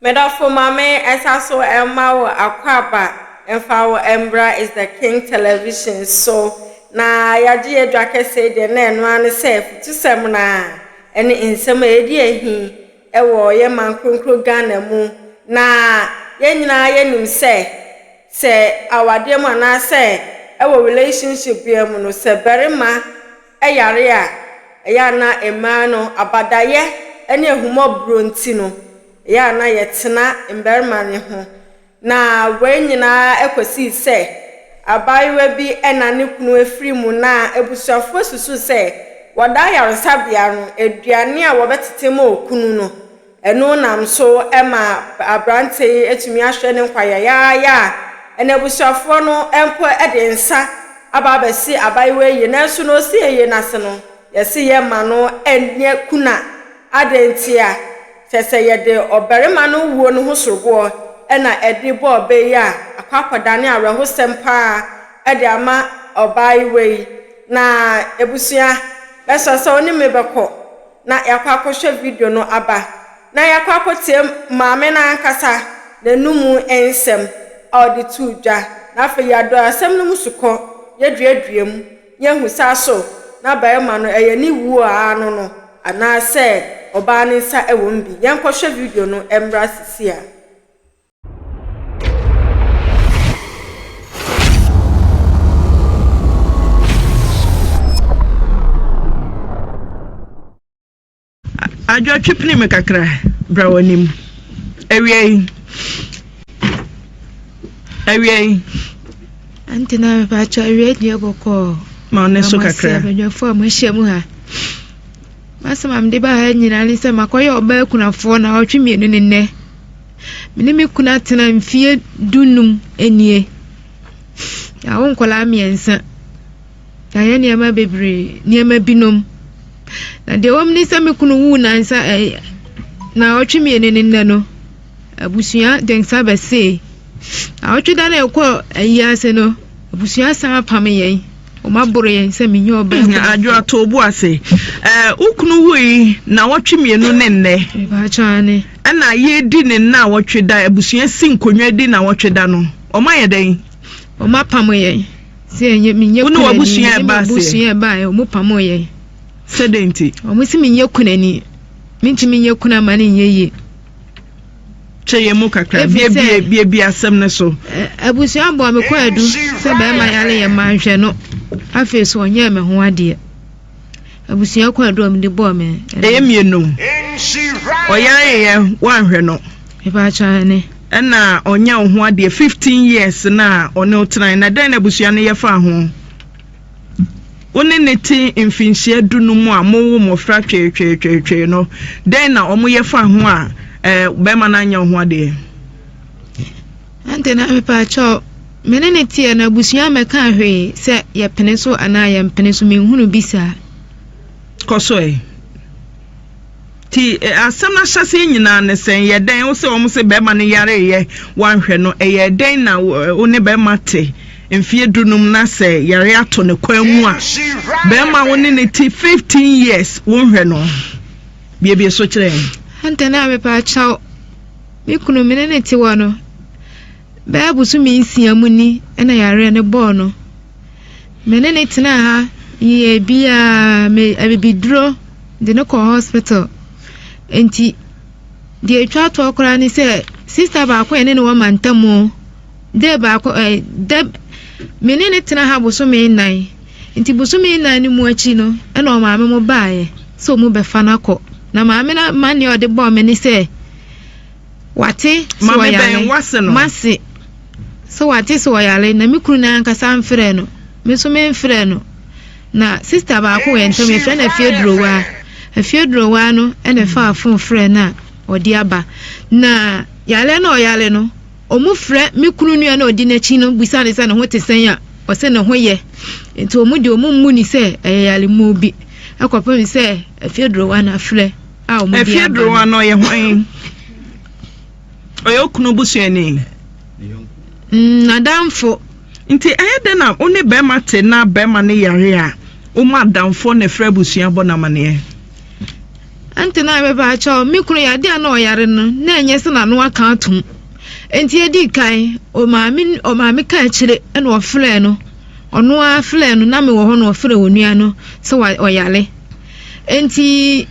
Medɔfo ma me nsa so mma wo akwaaba mfa wo mbra is the king television so na yɛagye yɛadwa kɛsee deɛ na ɛno ara ne sɛ futusɛm no ara ɛne nsɛm a ɛdi ahi wɔ yɛ man kronkron Ghana mu na yɛn nyinaa yɛnim sɛ sɛ awadeɛ mu anaasɛ ɛwɔ relationship bia mu no sɛ barima yare a ɛyɛ a na mmaa no abadaeɛ ne ahummɔborɔ nti no, ɛyɛ a na yɛtena mmarima no ho. Na wei nyinaa kɔsii sɛ abaayewa bi na ne kunu afiri mu na abusuafoɔ susuu sɛ wɔda ayaresabea no, aduane a wɔbɛtete ma okunu no, Ɛno nam so ma aberante yi atumi ahwɛ ne nkwa yayaaya a n'abusuafoɔ no mpo de nsa aba abɛse abaayewa yi, nanso na ɔsi ayie no ase no, yɛse yɛmma no nyɛ kuna. Adɛn nti a? Kyerɛ sɛ yɛde ɔbarima no wuo no ho soroboɔ na ɛde bɔ ɔbɛ yi a, akɔ akɔdane awerɛhosɛm pa ara de ama ɔbaayewa yi. Na abusua bɛsɔ sɛ wo ne me bɛkɔ. na yɛakɔ akɔhwɛ video no aba, na yɛakɔ akɔtie maame no ankasa n'anom nsɛm a ɔde too dwa, na afei yɛadɔ asɛm no mu sukɔ, yɛaduadua mu, na yɛahu sɛ aso na barima no ɛyɛ ne wu a ano no anaasɛ ɔbaa no nsa wom bi. Yɛnkɔhwɛ video no mmra seesei ara. adwotwe pene me kakra bra w'anim awia yi awia yi ɛnti na mepakyɛ awia deɛ bɔkɔɔ ma ɔne so kakra abadwafoɔ a moahyia mu ha masɛm a mede baa ha nyinaa ne sɛ makɔyɛ ɔbaa akunafoɔ na ɔtwe mmienu ne nnɛ me ne me kunu atena mfeɛ dunum nie yɛawo nkwadaa mmiɛnsa yɛayɛ nneɛma bebree nneɛma binom na deɛ wɔm ne sɛ me kunu wuu nansa ɛɛ eh, na ɔtwe mmienu ne nnɛ no abusua de nsa bɛsee na ɔtwe da na ɛkɔ ayi ase no abusua san apam yɛn. wɔaboro yɛn sɛ menye ɔbaa kunu. Adwo ato obu ase. Ɛɛ wo kunu wui na wɔtwe mmienu ne nnɛ. Mpakyane. Ɛna yɛredi ne nna a wɔtwe da abusua si nkonnwa di na wɔtwe da no. Wɔn ayɛ dɛn? Wɔn apam yɛn. Sɛ ɛnyɛ menyɛ kunani. Wo ne w'abusua ɛba ase. Abusua ɛba yɛn. Wɔn pam yɛn. Sɛ dɛn ti? Wɔn si menyɛ kunani. Mentumi nyɛ kunu ama ne nyɛ yie. kyɛ yɛn mu kakra biabiabia asɛm no so. abusua bɔ me kɔ adu sɛ bɛrima yare yɛ ma nhwɛ no afei so ɔnyɛɛ me ho adeɛ abusua kɔ adu a mede bɔɔ me ɛyɛ mmienu ɔyare yɛ woanhwɛ no ɛbaakyɛne ɛna ɔnyɛ wo ho adeɛ 15 years na ɔne wo tenae na dɛn na abusua no yɛfaa ho wo ne no te mfinhyia du no mu a mowo mmɔfra tweetweetweetwee no, dɛn na wɔyɛ fa ho a bɛrima no anyɛ wo ho adeɛ? Ɛnti na mepaakyɛw, me ne no teɛ no abusua mmɛkaa hwee sɛ yɛpene so anaa yɛmpene so, menhunu bi saa. Kɔ so ɛ. Nti asɛm no ahyɛseɛ nyinaa no sɛ yɛ dɛn wo sɛ wɔn se bɛrima no yareeɛ wanhwɛ no ɛyɛ dɛn na wo ne bɛrima te mfeɛ du num na sɛ yareɛ ato no kwan mu a bɛrima wo ne ne te 15 years wo nhwɛ no biebie so kyerɛ yɛn. Antɛ na mepɛ akyɛw me kunu me ne ne te wɔ no Bɛyɛ bosome nsia mu ni na yareɛ no bɔɔ no. Me ne no tenaa ha yɛɛ biaa me abibiduro de no kɔɔ hospital. Nti deɛ ɛtwa toɔ koraa ne sɛ sista baako a ɛne ne wɔ mantamu dɛ baako ɛ eh, dɛ me ne no tena ha bosome nnan. Nti bosome nnan no mu akyi no ɛna ɔmaame mo baeɛ sɛ ɔmu bɛfa no akɔ. Na maame no ma neɛ ɔde bɔɔ me ne sɛ Wate sɛ ɔyare. Mase sɛ wate sɛ ɔyare na me kunu no ankasa mfrɛ no. Me nso memfrɛ no. Na sista baako wɔ yɛn ntam yɛfrɛ no afie durowaa. Afie durowaa no na ɛfaa fon frɛ no a ɔde aba. Na yare no ɔyare no, wɔn frɛ me kunu nua na ɔdi n'akyi no bisa ne sɛ ne ho te sɛn a ɔsɛ ne ho yɛ. Nti wɔn de wɔn mmu ne sɛ ɛyɛ yaremuo bi. Ɛkɔpem sɛ afie durowaa no afrɛ. a wɔde aba no. Afiedorowa no ɔyɛ hwan? Ɔyɛ okunu busuani. Mm, n'adamfo. Nti ɛyɛ dɛ na wo ne bɛrima te na bɛrima no yare a, wɔn adamfo na ɛfrɛ abusua bɔ n'amaneɛ. Nti na ɛbɛba akyɛw me kunu yɛ adeɛ a na ɔyare no na ɛnyɛ sɛ n'ano aka atom. Nti edi kan ɔmaame ɔmaame ka akyire na ɔfrɛ no ɔno ara frɛ no na mewɔ hɔ na ɔfrɛ onua no sɛ ɔyare. Enti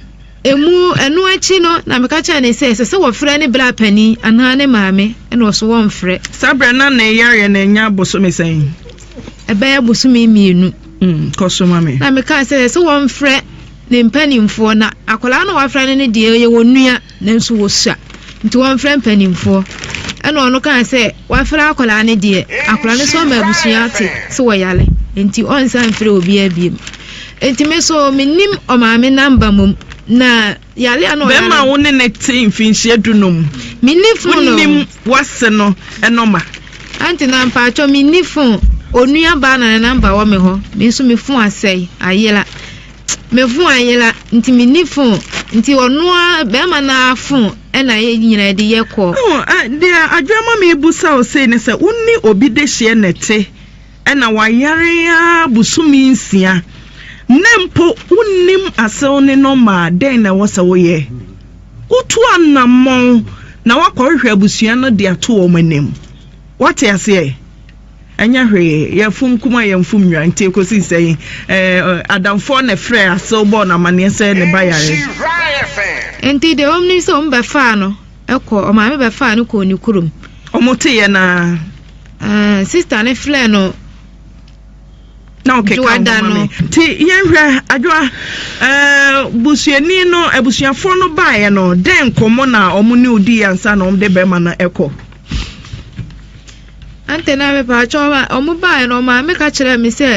emu ɛno akyi no na meka kyerɛ ne sɛ ɛsɛ sɛ wɔfrɛ ne bra panin anaa ne maame ɛna ɔso wɔmfrɛ. Saa berɛ na ne yareɛ no anya bosome sɛn? Ɛbɛyɛ bosome mmienu. Mm, kɔ so ma me. Na mekaa sɛ ɛsɛ sɛ wɔmfrɛ ne mpanimfoɔ na akwadaa na wɔafrɛ no no deɛ ɔyɛ wɔn nua. Nanso wɔsua, nti wɔmfrɛ mpanimfoɔ. Ɛnna ɔno kaa sɛ, Wɔafrɛ akwadaa no deɛ, akwadaa no nso ama abusua ate sɛ ɔyare, nti ɔrensan mfrɛ obiara biom. Nti me nso mennim ɔmaame namba mmom, na yare a na ɔyare no. Bɛrima a wo ne no te mfinhyia dunum. Menni fon o. Wonnim w'ase no nɔma. Aunty na mpaatwɔ menni fon. Onuabaa na ne namba wɔ me hɔ, me nso me fon asɛe, ayera. Me phone ayera nti me nni phone nti ɔno ara barima no ara phone na yɛ nyinaa de yɛ call. Oh ah deɛ adwene ma me busa wo sei ne sɛ wo ne obi dehyeɛ na ɛte ɛna wayare ara bosome nsia na mpo wo nnim asew ne no ma a dɛn na ɛwɔ sɛ wo yɛ? Wo tu anamɔn na wakɔ hwehwɛ abusua no de ato wɔn anim wate aseɛ. Ɛnyɛ hwee, yɛfom kum a yɛmfom nnwa nti kɔsi sɛn? Ɛɛ, adamfoɔ na ɛfrɛɛ Asew bɔɔ no amanneɛ sɛ ne ba yare. Enti deɛ wɔnim ne sɛ wɔn bɛfaa no kɔɔ, wɔn maame bɛfaa no kɔɔ ne kurom. Wɔteeɛ no ara. Ɛɛ, sista no frɛɛ no na ɔkeka ɔma me nti yɛnhwɛ adwoa ɛɛ busuani no abusuafoɔ no baeɛ no dɛn nkɔmmɔ na wɔn ne odi ansa na wɔn de bɛrima no kɔ. Ante na mepaakyɛ ɔma ɔmo baeɛ no maame ka kyerɛɛ me sɛ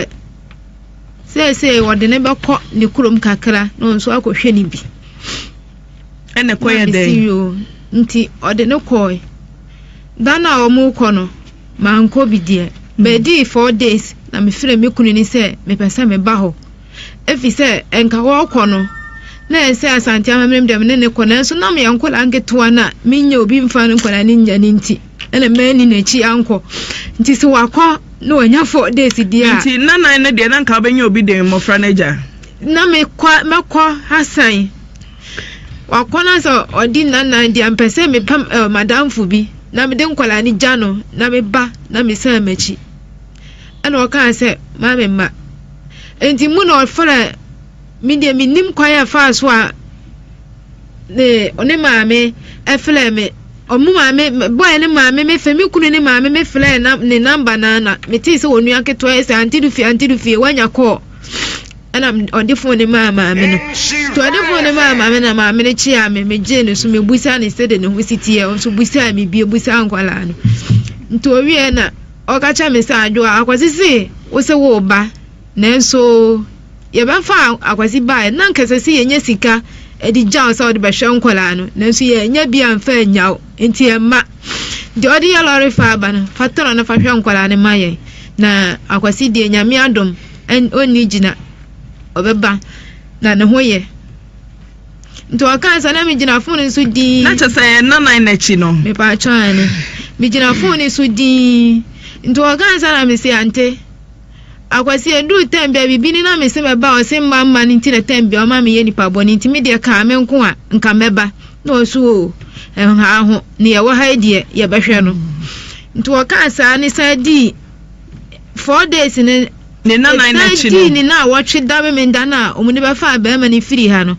seesei wɔde ne bɛkɔ ne kurom kakra na ɔnso akɔhwɛ ne bi ɛna kɔ yɛ dɛn nti ɔde ne kɔe da no a ɔmo kɔ no mankɔ bi deɛ bɛdii four days na mefrɛ me kunu ne sɛ mepɛ sɛ meba hɔ efisɛ anka wɔrekɔ no, na ɛsɛ Asante Amammerem deɛ me ne no kɔ, nanso na meyɛ nkwadaa nketewa na menyɛ obi mfa no nkwadaa no nnya no nti, ɛna manni n'akyi ankɔ. Nti sɛ wakɔ na wanya four days deɛ a. Nti na nan no deɛ na nka wobɛnya obi den mmɔfra no agya. Na mekɔ mɛkɔ asan. Wakɔ no sɛ ɔdi nnanan deɛ mpɛ sɛ mepam eh, madamfo bi na mede nkwadaa no gya no na meba na mesan m'akyi. Ɛna ɔkaa sɛ, Maame mma. Enti mu na ɔfrɛ me deɛ menim kwan a ɛfaa so a ne ne maame ɛfrɛ me. Ɔmo maame bɔɛ ne maame me fɛ me kunu ne maame me frɛ na ne namba na na metee sɛ onua ketewa sɛ ante do fie ante do fie wanya kɔɔ ɛna ɔde fon ne maa maame no to ɔde fon ne maa maame na maame no kyea me megye ne so mebusa ne sɛ de ne ho si teɛ ɔnso busa me bie busa nkwadaa no nti owie na Ɔka kyerɛɛ me sɛ, Adwoa, Akwasi se wo se woreba, nanso yɛbɛfa Akwasi baeɛ na anka ɛsɛ sɛ yɛnya sika de gya wo sɛ wode bɛhwɛ nkwadaa no, nanso yɛannya bi amfa annya wo, enti yɛmma. Deɛ wode yɛ lɔre fa aba no, fa tɔn na fa hwɛ nkwadaa no ma yɛn. Na Akwasi deɛ, Nyame adom, ɔnni gyina, ɔbɛba, na ne ho yɛ. Nti ɔkae sɛ, na migyina fon no so dinn. Na kyerɛ sɛ nnanan no akyi no. Mepatwa ane. Migyina fon no so dinn. Nti ɔkae sɛ na mese ante. Akwasi eduu tɛm bi a biribi ni na mese mɛba ɔse mma mma no nti na tɛm bi a ɔma meyɛ nipa bɔne nti me deɛ kaa me nko a nka mɛba na ɔso oo ɛnhaa ho ne yɛwɔ ha yi deɛ yɛbɛhwɛ no. Nti ɔkaa saa ne san dii four days ne Ne nna nan akyi no. Ɛsan dii ne nnaawɔtwe da Memenda no a wɔde bɛfaa barima no firii ha no,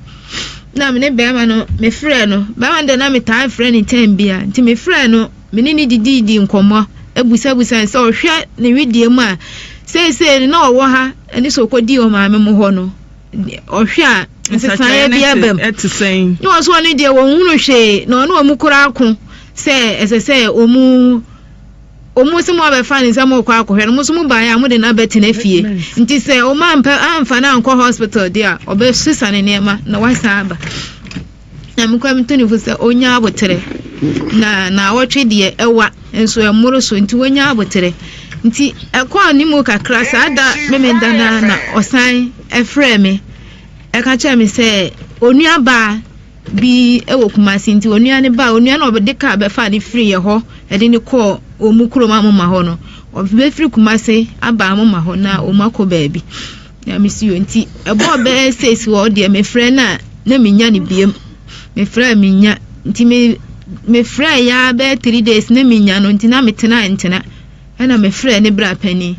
na me ne barima no mefrɛɛ no. Barima no deɛ na metaa frɛ no tɛm biara, nti mefrɛɛ no, me ne no didiidii nkɔmmɔ, bisabisaa no sɛ ɔhwɛ ne wedeɛ mu a, seesei no na ɔwɔ ha ne sɛ ɔkɔdii wɔn maame mo hɔ no, ɔhwɛ a nsesaeɛ bi aba mu. Ne wɔn so ɔno deɛ wɔnhunu hwee, na ɔne wɔn koraa ko sɛ ɛsɛ sɛ wɔn Ɔmo se mo abɛfa ne nsa mo rekɔ akɔhwɛ no, mo nso mo baeɛ a mo de no abɛte no afie. Nti sɛ ɔmo ampɛ amfa no ankɔ hospital deɛ a, ɔbɛsesa ne nneɛma na wasan aba. Na me kura me to ne fo sɛ ɔnya aboterɛ. Na naawɔtwe deɛ ɛwa nso ɛmmoro so nti wɔnya aboterɛ. Nti ɛkɔɔ ne mu kakra saa da memenda no ara na ɔsan ɛfrɛɛ me ɛka kyerɛɛ me sɛ onuabaa bi wɔ Kumasi nti onua no baa onua no a ɔde kaa bɛfaa no firi yɛ hɔ ɛde no kɔɔ wɔn mu kurom amoma hɔ no ɔbɛfiri Kumasi aba amoma hɔ na wɔn akɔ baabi na mesi yɛ nti ɛbɔɔ bɛyɛ six hɔ deɛ mefrɛ no a na menya no biem mefrɛ a menya nti me mefrɛ yɛ a bɛyɛ three days na menya no nti na metena ntena ɛna mefrɛ ne bra panin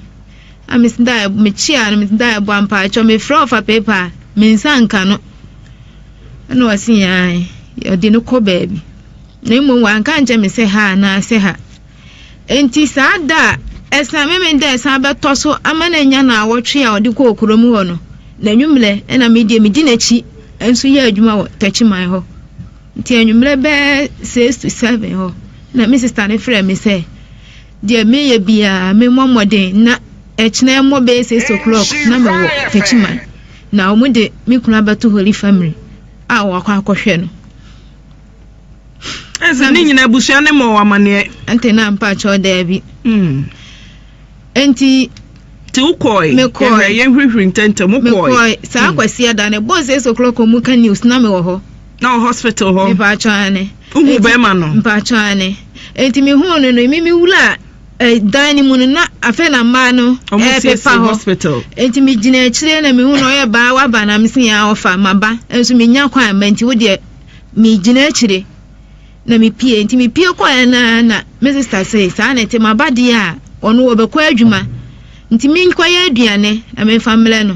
a mesida mekyea no mesida ɛbɔ ampaatwɔ mefrɛ ɔfa pepa a mensa nka no ɛna ɔse ae ɔde no kɔ baabi na mmom wanka nkyɛ me sɛ ha anaasɛ ha enti saa da a ɛsan meme da ɛsan bɛtɔ so ama no anya na awɔtwe a ɔde kɔɔ kurom hɔ no na anwummerɛ ɛna medeɛ medi n'akyi nso yɛ adwuma wɔ takyiman hɔ nti anwummerɛ bɛɛ 6 to 7 hɔ na me sista no frɛ me sɛ deɛ meyɛ biara memmɔ mmɔden na ɛkyena mmɔ bɛɛ 6 o'clock na mewɔ takyiman Na wɔde me kunu abɛto hɔ lifamiri a wɔakɔ akɔhwɛ no. Ɛsɛ ne nyinaa abusua ne ma amaneɛ. Ɛnte na mpa kyɛw daabi. Hmm. Enti. Ti wokɔe. Mekɔe. Yɛnhwehwere ntɛntɛm wokɔe. Mekɔe saa hmm. kwasi ɛda no ɛbɔ six o'clock mu ka news na mewɔ hɔ. Na wɔ hospital hɔ. Mpa kyɛw ane. Uhu bɛrima no. Mpa kyɛw ane. Enti mehuu no no mimi wura. Eh, dan no mu no na afei na mmaa no ɛrepepa eh, hɔ nti megyina akyire na mehu na ɔyɛ baa waba na mese yɛn ɔfa maba nso menya kwan ma nti wodeɛ megyina akyire na mepie nti mepie kɔɛ na na me sista se saa na ɛte maba deɛ a ɔno wɔbɛkɔ adwuma nti menkɔyɛ aduane na memfa mmerɛ no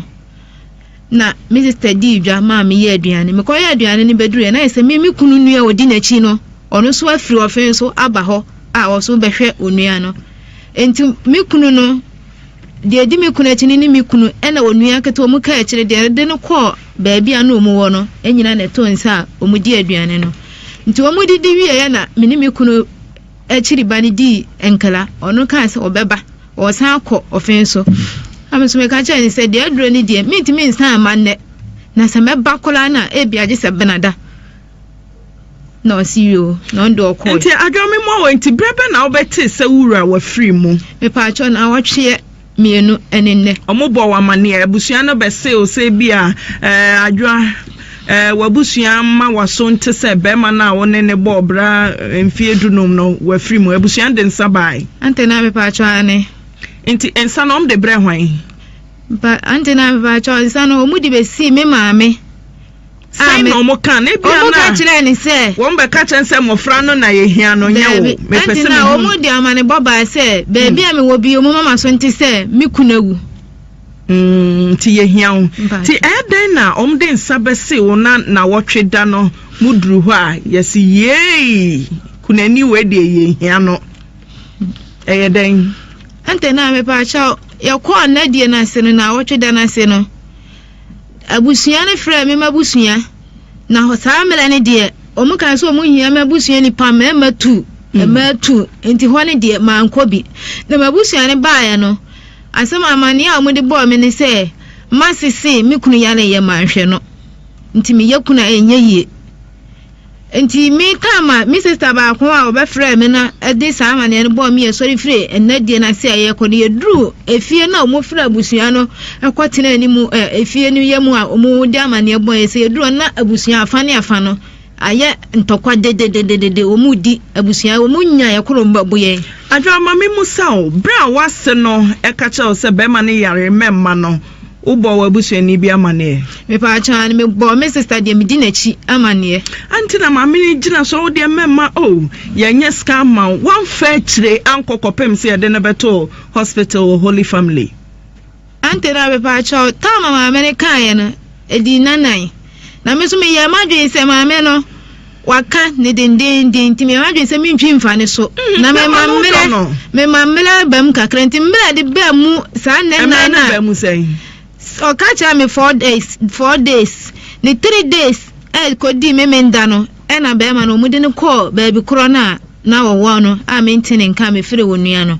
na me sista dii dwa maa meyɛɛ aduane. Mekɔyɛɛ aduane no bɛduruiɛ na ayɛ sɛ me me kunu nua a ɔdi n'akyi no, ɔno nso afiri ɔfee so aba hɔ a ɔso rebɛhwɛ onua no. Enti me kunu no, deɛ ɛdi me kunu akyi no ne me kunu ɛna onua ketewa ɔmo kaa akyire deɛ ɛde no kɔɔ baabi a na ɔmo wɔ no nyinaa na ɛtoo nsa a ɔmo di aduane no. Nti ɔmo didi wieɛ na me ne me kunu akyiri ba no dii nkra, ɔno kaa sɛ ɔbɛba. Ɔsan kɔ ɔfe so. Na me nso meka kyerɛɛ no sɛ, deɛ aduro no deɛ, mentumi nsan mma nnɛ. Na sɛ mɛba koraa no a, ebia gye sɛ benada. Na ɔse yoo, na ɔno deɛ ɔkɔe. Nti adwoa me mmɔ wo, nti berɛ bɛ na wobɛtee sɛ wo wura wafiri mu? Mepaakyɛw, na awɔtweɛ mmienu ne nnɛ. Wɔbɔɔ wo amanneɛ? Abusua no bɛsee wo sɛ ebia ɛɛ adwoa. Ɛɛ, w'abusua mma w'aso nte sɛ barima no a wo ne no bɔɔ bra mfeɛ dunum no, w'afiri mu. Abusua no de nsa baae. Ante na mepaakyɛw aane. Nti nsa no wɔn de brɛɛ hwan? Mpa, ante na mepaakyɛw nsa no wɔn de bɛsii me maame. Sɛn na wɔn kaa no? Ebia na. Wɔn ka kyerɛɛ ne sɛ. Wɔn bɛ ka kyerɛ sɛ mmɔfra no na yɛhia no, nyɛ wo. Mepɛ sɛ mehu. Ante na wɔn de amanebɔ baa sɛ, baabi a mewɔ bio, mo mama so nte sɛ me kunu awu. Nti yɛhia wo. Nti ɛyɛ dɛn na wɔde nsa bɛse wo na nawɔtwe da no mo duru hɔ a yɛse yeei kunani wei deɛ yɛhia no. Ɛyɛ dɛn? Ɛntɛ na mepaakyɛw yɛkɔɔ nna die no ase no nawɔtwe da no ase no abusua no frɛɛ me m'abusua na saa mmerɛ no deɛ wɔn kan sɛ wɔn hia m'abusua nipa mmarima tu mmaa tu nti hɔ no deɛ mankɔ bi na m'abusua no baeɛ no Asɛm a amanneɛ a wɔde bɔɔ me ne sɛ m'ase se me kunu yare yɛ ma nhwɛ no nti meyɛ kunu a ɛnyɛ yie. Enti me Tama, me sista baako a wɔbɛfrɛɛ me no de saa amanneɛ no bɔɔ me yɛsɔre firi nna die no ase a yɛrekɔ no yɛduruu efie no a wɔfiri abusua no kɔ tenaa anim ɛ, efie no yɛ mu a wɔde amanneɛ bɔeɛ sɛ yɛduruu hɔ no na abusua afa ne afa no Ayɛ ntɔkwa dedededede, wɔn mu di abusua, wɔn mu nya yɛ koro mma bu yɛn. Adwamame mu sa o, bere a w'ase no ka kyerɛ wo sɛ bɛrima no yare mɛmma no, wo bɔɔ w'abusuani bi amaneɛ? Me paa kyɛ aane, me bɔɔ me sista deɛ me di n'akyi amaneɛ. Adeɛ nti na maame no gyina so, wo deɛ mɛmma o, yɛ nyɛ sika amma wo, w'amfa akyire ankɔ kɔpem sɛ yɛde no bɛtoo hospital wɔ Holy Family. Ante na mepaakyɛw, tam a maame no kaeɛ no, ɛdii nnanan. Na me nso meyɛɛ m'adwene sɛ maame no waka ne dendeenden nti meyɛɛ m'adwene sɛ mentwi mfa ne so. Mm, na mema mmerɛ mema mmerɛ ba mu kakra nti mmerɛ de ba mu saa nnɛ nnan na ɔka kyerɛ me four days four days ne three days ɛkɔdi eh, me menda no ɛna eh, bɛrima no wɔde no kɔɔ baabi korɔ no a na wɔwɔ no a mente ne nka mefiri wo nua no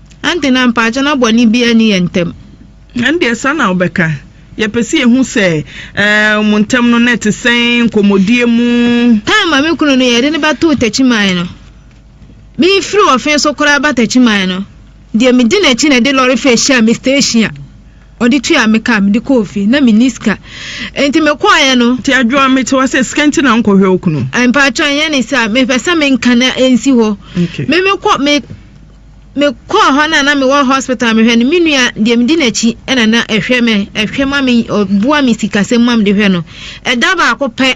Ɛnde na mpaakyɛ na bɔne biara nni yɛn ntam. Ɛndeɛ saa na wobɛka? Yɛpɛ sɛ yɛhu sɛ eh, mo ntam no na ɛte sɛn nkɔmmɔdie mu. Ɛɛ, ma me kunu no yɛde no bɛtoo Takyiman no. Merefiri Wɔfe so koraa ba Takyiman no, deɛ medi n'akyi na ɛde lɔre fɛ hyiaa me station a ɔde tuaa me ka mede kɔɔ fie. Na menni sika. Enti mekɔeɛ no. Nti Adwoa, mete hɔ sɛ sika nti na wonkɔhwɛ wo kunu? Mpaakyɛ, ɛnyɛ ne saa. Mepɛ sɛ menka na ɛnsi hɔ. Okay. Me mekɔ, me Mekɔɔ hɔ no a na mewɔ hospital mehwɛ no me nua deɛ medi n'akyi ɛna na ɛhwɛ me ɛhwɛ ma me ɔboa me sikasɛm ma mede hwɛ no ɛda baako pɛ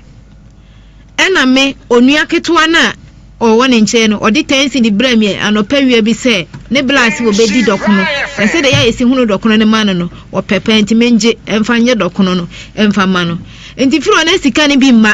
ɛna me onua ketewa no a ɔwɔ ne nkyɛn no ɔde tɛnsi de brɛ me anɔpa wia bi sɛ ne blase wɔbɛdi dɔkono na sɛ deɛ yɛ a yɛsi hunu dɔkono no ma no no ɔpɛ paa nti mengye ɛmfa nyɛ dɔkono no ɛmfa ma no nti firi ɔna sika no bi mma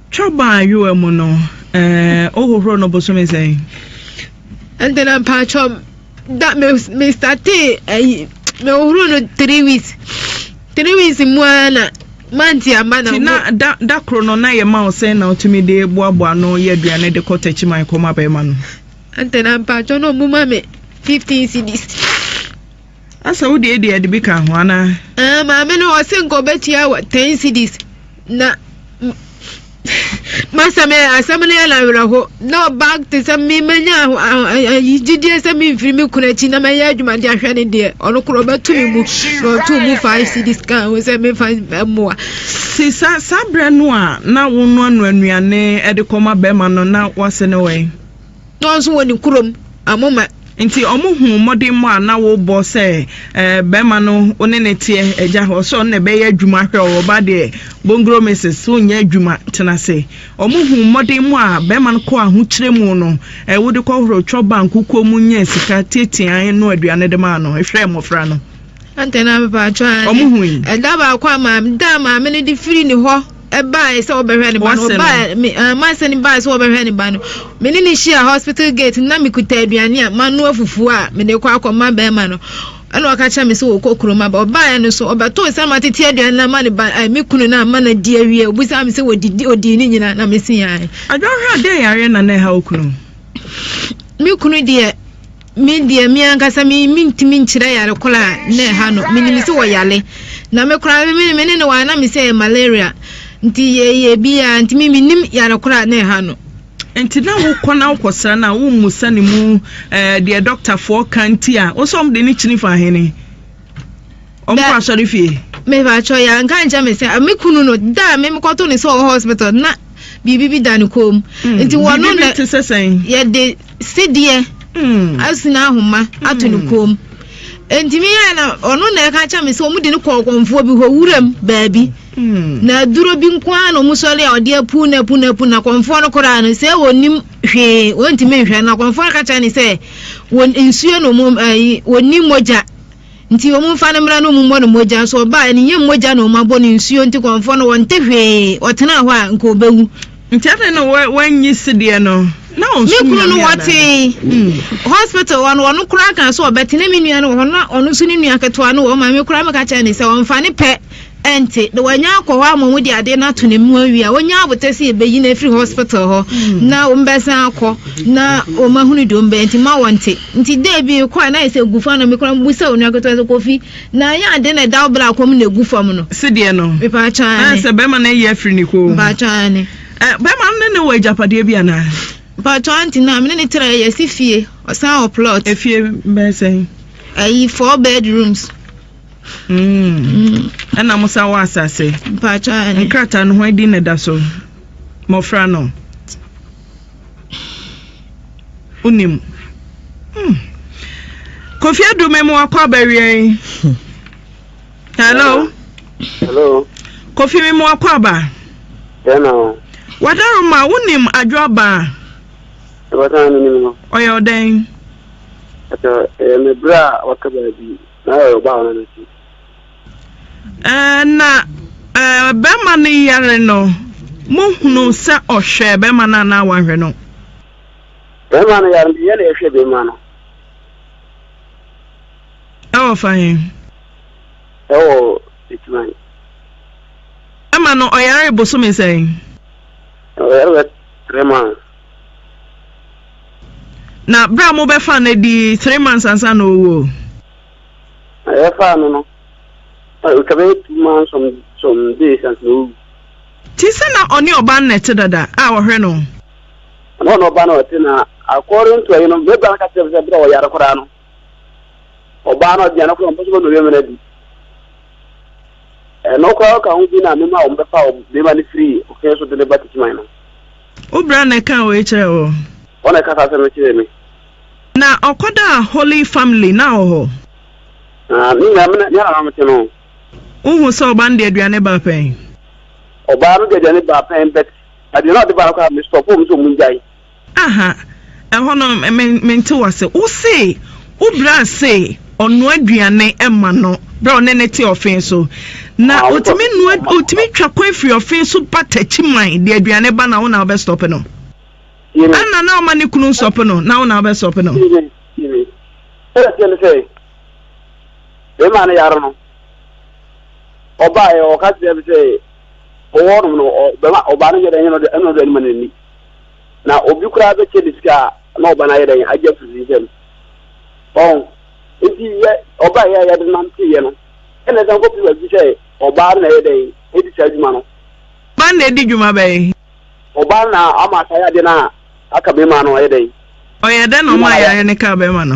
Twa baa yowa mu no eh, o hohoro no bosome sɛn? ɛnde na mpakyɛ da me me startee ayi eh, me hohoro no three weeks three weeks mu ara na manti aba na na da da koro no na yɛ ma wo sɛn na wotumi de boaboa no yɛ aduane de kɔ takyiman kɔma bɛrima no ɛnde na mpakyɛ no ɔmo ma me fifteen cedis Asa wo deɛ deɛ de bi ka ho anaa. Ɛɛ maame no ɔse nka ɔbɛtua wɔ ten cedis na masa me asɛm no yɛ no awerɛho na ɔbag te sɛ me manya gyidie sɛ memfiri me kunu akyi na mɛyɛ adwuma de ahwɛ ne deɛ ɔno korɔ ɔbɛto me mu na ɔto mu five cedis ka ho sɛ mefa mmoa si sa saa berɛ no a na wonoanoa nnuane de kɔma bɛrima no na wase ne wɛn Dɔɔ nso wɔ ne kurom amoma. Nti ɔmo huu mmɔdemmɔ a na wobɔ sɛ bɛɛma no wo ne no teɛ agya hɔ sɛ ɔno na ɛbɛyɛ adwuma hwɛ wo ɔba deɛ bongro Misis wo nyɛ adwuma tena ase ɔmo huu mmɔdemmɔ a bɛɛma no kɔ ahokyerɛ mu no wode kɔ horo twɔ ba nkukuo mu nyɛ sika tiatiaɛ no aduane de maa no hwɛ mmɔfra no. Antɛ na mepɛ atwa ɔmo hui. Ɛda baako a maame da maame no de firi ne hɔ. ɛbaeɛ sɛ wɔbɛhwɛ ne ba no wɔbaeɛ me ɛɛ mansɛ ne baeɛ sɛ wɔbɛhwɛ ne ba no me ne ne hyia hospital gate na me kuta aduane a manoa fufuo a me de kɔ akɔma bɛrima no ɛna ɔka kyerɛ me sɛ wɔkɔ kurom aba ɔbaeɛ no so ɔbɛtoo sɛ ma tete aduane no ama ne ba ɛɛ me kunu no ama no adi awie obusaa me sɛ wɔdidi odii ne nyinaa na me se yɛn. adwahwɛ a dɛn yareɛ na na ɛha okunu. me kunu deɛ. Me deɛ me ankasa me mentumi nkyerɛ yare kola a na ɛha no menim sɛ wɔyare na me koraa me me ne ne wɔ ana me sɛ malaria nti yɛyɛ bi a nti me menim yare kola a na ɛha no. Nti na wokɔ na wokɔsra no a wommusa ne mu ɛɛ deɛ dɔktafoɔ ka nti a wo sɛ wɔn de ne kyini fa hene. ɔmokɔ asɔre fie mebakyɛ yɛ nka nkyɛ me sɛ me kunu no da a me mekɔto ne sɛ ɔwɔ hospital na biribi bi da ne kɔn mu hmm. nti wɔno na yɛde sedeɛ hmm. asina ahoma ato ne hmm. kɔn mu ntumi yɛ na ɔno na ɛka kyɛ me sɛ ɔmo de no kɔɔ kɔnfoɔ bi hɔ wuram baabi na aduro bi nko ara na ɔmo sɔre a ɔde apu na apu na apu na kɔnfoɔ no koraa no sɛ wɔnim Hwee, wɔntumi nhwɛ no. Akɔmfoɔ no ka kyerɛ no sɛ, wɔ nsuo na wɔn ayi, wɔnni mogya. Nti wɔn mfa no mmra na wɔmmɔ no mogya. Nso ɔbaa, ne nyɛ mogya na wɔn abɔ no nsuo. Nti kɔmfoɔ no, wɔnte hwee. Ɔtenaa hɔ a, nka ɔbɛwu. Nti adɛn na wa, wannye sedeɛ no? Na ɔnsom Nyame anaa? Me kunu no wɔtee. Hmm. Hospital hɔ no, ɔno koraa kaa sɛ ɔbɛte. Na me nua no wɔ hɔ, na ɔno nso ne nua ketewa no wɔ hɔ ma. Me koraa meka kyerɛ no sɛ, ɔmfa ne pɛ. ɛnte, na wɔanya akɔ hɔ ama wɔde adeɛ no ato ne mu awie a, wɔnya abotɛ sɛ yɛbɛyi no afiri hospital hɔ mm. na wɔbɛsan akɔ na wɔahunu deɛ wɔbɛyɛ nti ma wɔnte nti da bi kɔ a na ayɛ sɛ gu fa no mekora mbu sɛ onua ketewa sɛ kofi na ɛyɛ ade na ɛda wo berɛ akɔm na ɛgu fam no sedeɛ no mepaakyane sɛ bɛrima no ayi afiri ne koo mepaakyane bɛrima no ne ne wɔ agyapadeɛ bi anaa mpaakyane nti na mene ne tra yɛsi fie ɔsan wɔ plot efie bɛsɛn ayi four bedrooms Mm. Ɛna mo san wɔ asase. Mpakyɛ ayɛ. Nkrataa no hwan din na ɛda so? Mmɔfra no. Wonim. Hmm. Kofi Adume mu wakɔ abawia yi. Hello. Hello. Kofi mi mu wakɔ aba. Dɛn na o. Wadaro ma wonim adwo aba. Ɛbɛsan no nim no. Ɔyɛ ɔdɛn. Ɛtɔ ɛyɛ mebere a wakaba bi. Na ɛyɛ ɔbaa no ne ti. Eh, na eh, bɛrima no yare no, mohunu sɛ ɔhwɛɛ bɛrima no anaa wanhwɛ no? Bɛrima no yare no, yɛn na yɛhwɛ bɛrima no. Ɛwɔ fa he? Ɛwɔ Etiman. Bɛrima no, ɔyaree bosome sɛn? Ɔyare bɛ three months. Na berɛ a mobɛfaa no adi three months ansa na ɔwu o. Na yɛfaa no no, na ɛtwa bɛyɛ two months some some days ansa na ɔwu. Ti sɛ na ɔne ɔbaa no na ɛte dada a ɔhwɛ no o. Na ɔne ɔbaa no ɔte na according to ɛyi no mebra no ka kyerɛ me sɛ berɛ a ɔyare koraa no ɔbaa no aduane koraa ɔmpɛ sɛ ɔbɛma bɛrima no adi. Ɛno koraa ɔka ho bi na mema wɔn bɛfa bɛrima no firi ɔkɛn so de no ba Techiman no. Wo bra na ɛkaa wei kyerɛɛ wo? Hɔ na ɛkasa asɛm no kyerɛɛ me. Na ɔkɔdaa Holy Family na wɔ hɔ. Na me nyinaa me na na mete no. Wohu sɛ ɔba no de aduane baa pɛn? Ɔbaa no de aduane baa pɛn but aduane a ɔde baa no koraa me stop wɔn sɛ wɔn ngyae. Aha. Ɛhɔ no me mente wo ase. Wo se wo bra se ɔnoa aduane ma no berɛ a ɔne no te ɔfee so. Na ɔtumi noa ɔtumi twa kwan firi ɔfee so ba Takyiman de aduane ba na wo na wobɛ stop no? Ana na ɔma ne kunu nsɔp no na wo na wobɛ stop no? Sɛ ɛteɛ ne sɛ bɛma no yare no ɔbaeɛ ɔka kyerɛ me sɛ ɔwɔ nom no ɔbɛma ɔbaa no nyɛ dɛ ɛnyɛ no dɛ ɛno dɛ ɛnima n'ani Na obi koraa bɛkyɛ ne sika a, na ɔba no ayɛ dɛn? Agye afiri ne nsam. Ɔho? Enti yɛ, ɔbaeɛ a yɛde nanteeɛ no, ɛna ɛsan kɔ pira bi sɛ ɔbaa no na ɛyɛ dɛn? Ɛdi saa adwuma no. Ɔbaa no na ɛdi dwuma bɛn? Ɔbaa no na ama saa yadeɛ no a aka bɛrima no ayɛ dɛn? Ɔyɛ dɛn na ɔmaa yareɛ no kaa bɛrima no?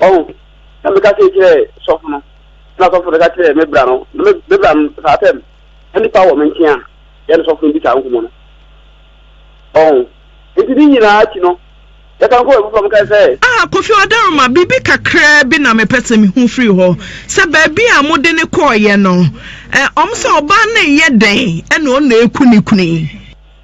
Ɔho, na meka sei kyerɛɛ sɔfo no, na sɔfo no ka kyerɛɛ me bra no, na me me bra no saa tɛm, na nipa wɔ me nkyɛn a, yɛne sɔfo no di saa nkɔmmɔ no. Ɔho, nti ne nyinaa akyi no, yɛsan kɔɔ abufuo a mekae sɛ. Ah, Kofi Odaroma, biribi kakraa bi na mepɛ sɛ mehu firi hɔ, sɛ baabi a mode no kɔeɛ no, ɛ, wɔn sɛ ɔbaa no reyɛ dɛn na ɔnna ɛreku ne kunu yi?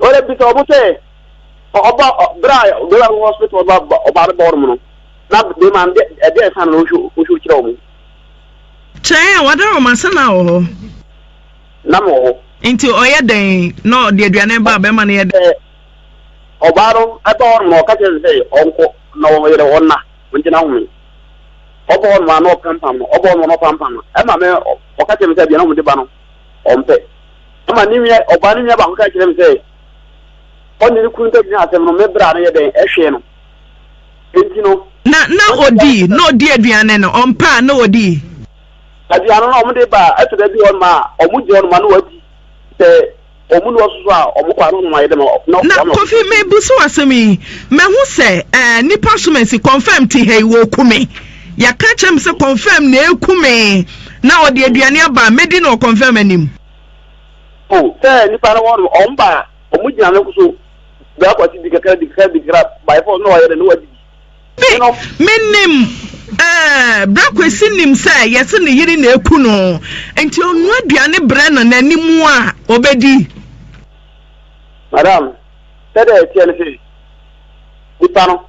wɔbisa wɔn sɛ ɔba bere a bɛrima no wɔ hospital ɔba ɔba no bɔ wɔn no na bɛrima no dɛ ɛdɛ ɛsan na ɔhwɛ ɔhwɛ kyerɛ wɔn. Kyerɛ a wɔda wɔn ase na wɔ hɔ. Na wɔ hɔ. Nti ɔyɛ dɛn na ɔde aduane ba a bɛrima no yɛ dɛn. Sɛ ɔbaa no ɛba wɔn na ɔka kyerɛ no sɛ ɔnkɔ na wɔn yɛrɛ wɔn na wɔn gyina wɔn. Ɔbɔ wɔn na ɔpampam no ɔbɔ wɔn na ɔpampam no ɛma mɛ ɔka kyerɛ me sɛ aduane wɔn de ba no. ɔmpɛ. Ɛnna ne nua ɔbaa no nua baako ka kyerɛɛ me sɛ, Ɔne ne kunu ntam nyinaa asɛm no, me bra no yɛ dɛn? Ɛhwee no. Enti no. Na na ɔdi, na ɔdi aduane no, ɔmpɛ a na ɔdi. Aduane no, wɔde ba a, ɛtɔ da bi hɔ no ma a, wɔgye wɔn ma na wɔadi sɛ. Na Kofi me bu so asɛm yi mahu sɛ eh nipa so mɛsi confirm ti hɛi wɔ ku me yɛ ka kyerɛ me sɛ confirm na ɛku me na ɔde aduane aba mɛdi no wɔ confirm anim. Oh sɛ nipa no wɔnom ɔm ba a ɔmo gyina no so bɛkɔ ase di kakra di kakra di kakra by force na ɔyɛ dɛ na wadi bi. Me nim eh bra kwesi nim sɛ yɛse ne yere na eku no nti ɔnua aduane brɛ no n'anim a ɔbɛdi. Madam sɛdeɛ ɛteɛ no sɛ nipa no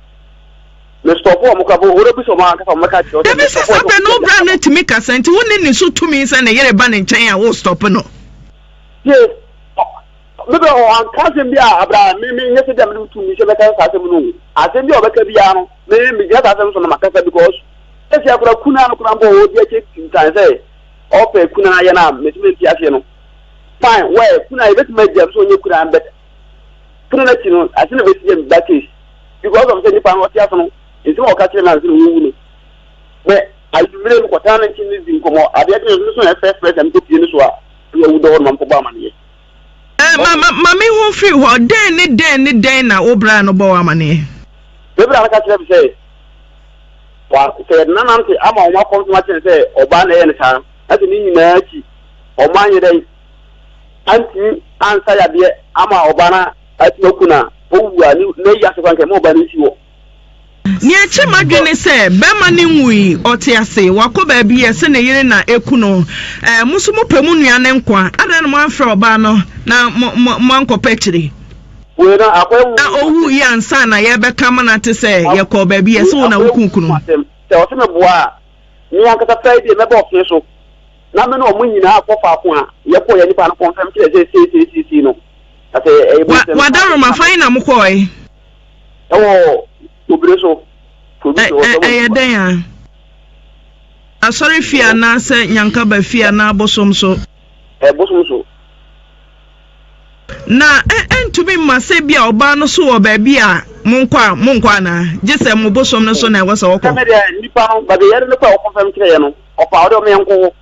me stɔpo wɔn kora bo wɔrɛ bisa wɔn ankasa wɔn bɛka kyerɛ dabi sɛ sɛ bɛ no wobra no tumi kasa nti wo ne ne so tumi sɛ ne yere ba ne nkyɛn a wo stɔpo no. Tie. Me bɛ hɔ, ɔannka asɛm bi a bra me mennyɛ sɛ bi a mede me tumi hyɛ bɛka saa asɛm no o. Asɛm bi a ɔbɛka biara no, me megyina saa asɛm no so na makasa because sesia koraa kunaa no koraa mpo a ɔdi akyire tintan sɛ ɔpɛ kunaa yɛ no a mese mente aseɛ no. Fine, where, kunaa yɛbɛtumi agyae no sɛ ɔnyɛ kunaa no but pono no akyi no ansa na bɛsi yɛ me ba case because of sɛ nipa no ɔte ase no nsɛm a ɔka kyerɛ me ansa na ɔwu no bɛ anwummere no kɔtena no nkyɛn ne di nkɔmmɔ adeɛ kyerɛ no so na ɛfɛfrɛ sɛ mekɔpie no so a ɛyɛ awu dɔ hɔ no ma mekɔbɔ amaneɛ. Ma ma ma me ho firi hɔ, dɛn ne dɛn ne dɛn na wo bra no bɔ wo amaneɛ? Me bra no ka kyerɛ me sɛ, wa sɛ yɛde no anante ama wɔn akɔ nso akyerɛ no sɛ ɔbaa na ɛyɛ no saa, na sɛ ne nyinaa akyi wɔn anyɛ dɛn antumi ansa yadeɛ ama ɔbaa no atumi aku no a, ɔwu a, ne n'ayi ase koraa nka ɛma ɔbaa no nsi hɔ. Nea ɛkyɛ m'adwene ne sɛ barima no nwui, ɔte ase, wakɔ baabi, ɛse ne yere na ɛku no. Ɛɛ, mo nso mopɛ mo nua no nkwa, adɛn na moamfrɛ ɔbaa no na moankɔpɛ akyire? Na ɔwuiɛ ansa na yɛrebɛka amena te sɛ yɛkɔɔ baabi, ɛse wo na wokum kunu no. Sɛ ɔse meboa a, me ankasa pɛ deɛ mɛba ɔfee so na me ne wɔn nyinaa akɔ faako a yɛkɔeɛ, nipa no kɔmfɛm kyerɛ sɛ sei sei sei sei no. Wadaworo ma fan na mokɔɔe? Ɛwɔ obire so. Ɛyɛ dɛn a? Asɔre fie anaa sɛ nyankaba fie anaa bosom so? Bosom so. Na ɛntumi mma sɛ bi a ɔbaa no so wɔ baabi a monkɔ a monkɔ anaa? Gye sɛ mo bosom no so na ɛwɔ sɛ wɔkɔ. Sɛ me deɛ nipa no baabi yɛde no kɔ a wɔkɔmfɛm kyerɛ yɛ no ɔpɛ a ɔde ɔmo yɛn nkɔ hɔ.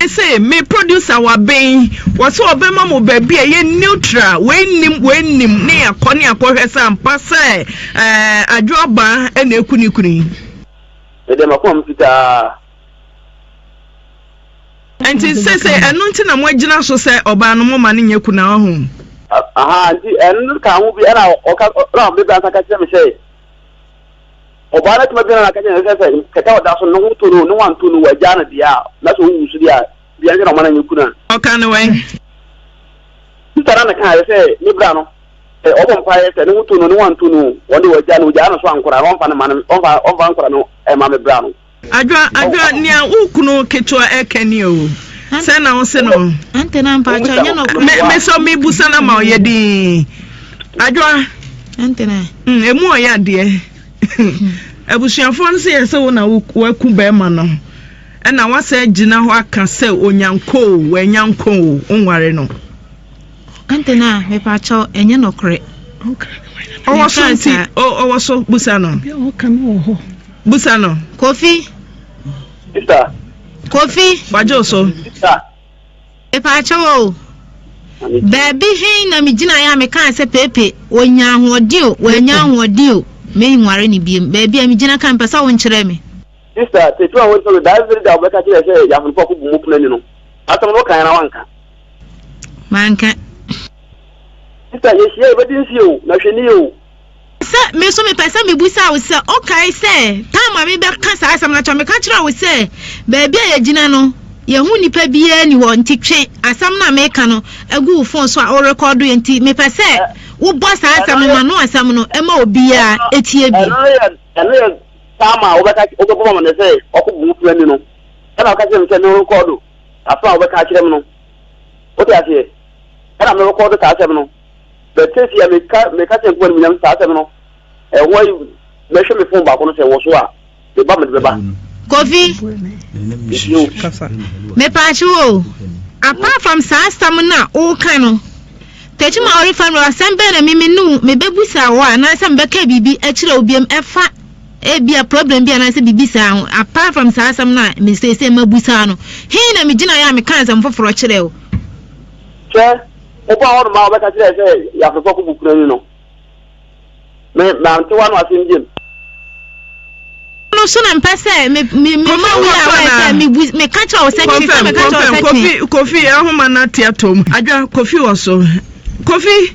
Me se me producer waben yi wɔse ɔbɛma mo baabi a ɛyɛ neutral wei nnim wei nnim ne yɛakɔ ne yɛakɔhwɛ sɛ ampa sɛ eh, adwo abaa ɛna ɛku ne kunu yi. Mede makoma me fitaa. Nti sese ɛno nti na moagyina so sɛ ɔbaa no moma no nyɛ kuna ɔho. Aha nti ɛno ka ho bi ɛna ɔka ɛna ɔbɛbɛ ansa ka kyerɛ me sɛ. Ɔbaa no tuma biara na aka kyerɛ no sɛ sɛ kɛtɛ a ɔda so no ne ho tɔ no o, ne ho antɔ no o, wɔagyaa no deɛ a, na sɛ ɔwu nso deɛ a, dua nti na wɔma no nyɛ kunu a. Ɔka no wɛn? Sista no na kaeɛ sɛ ne bra no, sɛ ɔbɔ mpaeɛ sɛ ne ho tɔ no o, ne ho antɔ no o, wɔn deɛ wɔagyaa no, wɔgyaa no nso ankora na wɔmfa no mma no, wɔmfa, wɔmfa ankora no mma me bra no. Adwoa adwoa nea wo kunu ketewa ɛka nie oo sɛn na wo se no Antena mpa atwa nyɛ no kora Me me sɔ me busa na ma ɔyɛ din Adwoa Antena mm, emu ɔyɛ adeɛ Abusuafoɔ no se yɛ sɛ wo na wo waku bɛɛma no ɛna wasɛ gyina hɔ aka sɛ onyanko oo wanya nko oo wo nware no. Antɛ na mepakyɛw ɛnyɛ nɔkorɛ. Ɔwɔ so nti ɔwɔ so busa no. Busa no. Kofi. Busa. Kofi. Wagye so. Busa. Mepakyɛw o. Baabi hen na megyina yɛ a mekaa sɛ pepe wɔnya ahoɔden o wɔanya ahoɔden o menware ne biem baabi a megyina ka mpɛ sɛ wo nkyerɛ me. Sista, tetu a wɔnkyerɛ no, daa ɛfiri da wɔbɛka kyerɛ sɛ yɛ ahonfo akɔbu mu pena ni no. Asɛm no wokaeɛ na wanka. Manka. Sista yɛhyia yɛ bɛdi nsi o na hwɛ ni o. Sɛ me nso mepɛ sɛ mebusa wo sɛ wokae sɛ time a mebɛka saa asɛm no akyerɛ meka kyerɛ wo sɛ baabi a yɛgyina no yɛho nipa biara ni hɔ nti twe asɛm no a meka no agu wo fon so a worekɔdo yɛ nti mepɛ sɛ wobɔ saa asɛm no ma no asɛm no ɛma obiara ɛtie bi. Ɛno yɛ time a wobɛka wobɛbɔ ma no sɛ ɔkɔ bu wo fira ni no ɛna woka kyerɛ me sɛ ne rekɔdo asɛm a wɔbɛka akyerɛ me no. Wote aseɛ? Ɛna me record saa asɛm no. But seesie a meka meka kyerɛ Nkoa no mu nyam saa asɛm no. Ɛhɔ ayi mɛhwɛ me phone baako no sɛ wɔ so a, me ba mede bɛba. Kofi. Nti o. Kasa. Mepaakyɛ wo o. Apart from saa asɛm no a woka no, Tekyim a ɔrefa no asɛm bɛn na me me ne wo mebɛbusa wo anaasɛ mebɛka biribi akyerɛ wo biam ɛfa Ebia problem bi anaasɛ biribi saa ho. Apart from saa asɛm no a me seesei mabu saa no, he na migyinae a mekaa asɛm foforɔ kyerɛɛ wo? Hwɛ, wokɔɔ hɔnom a wobɛka kyerɛɛ sɛ Yafefoɔ koko kunani no, me, mante w'ano asɛm biom. no so na mpɛ sɛ me, me, me ma wo yɛ a woayɛ sɛ mebu, meka kyerɛ wo sɛ kye, sɛ meka kyerɛ wo sɛ kye. Kofi, Kofi, ahoma no ate atɔ mu. Adwa, Kofi wɔ so. Kofi!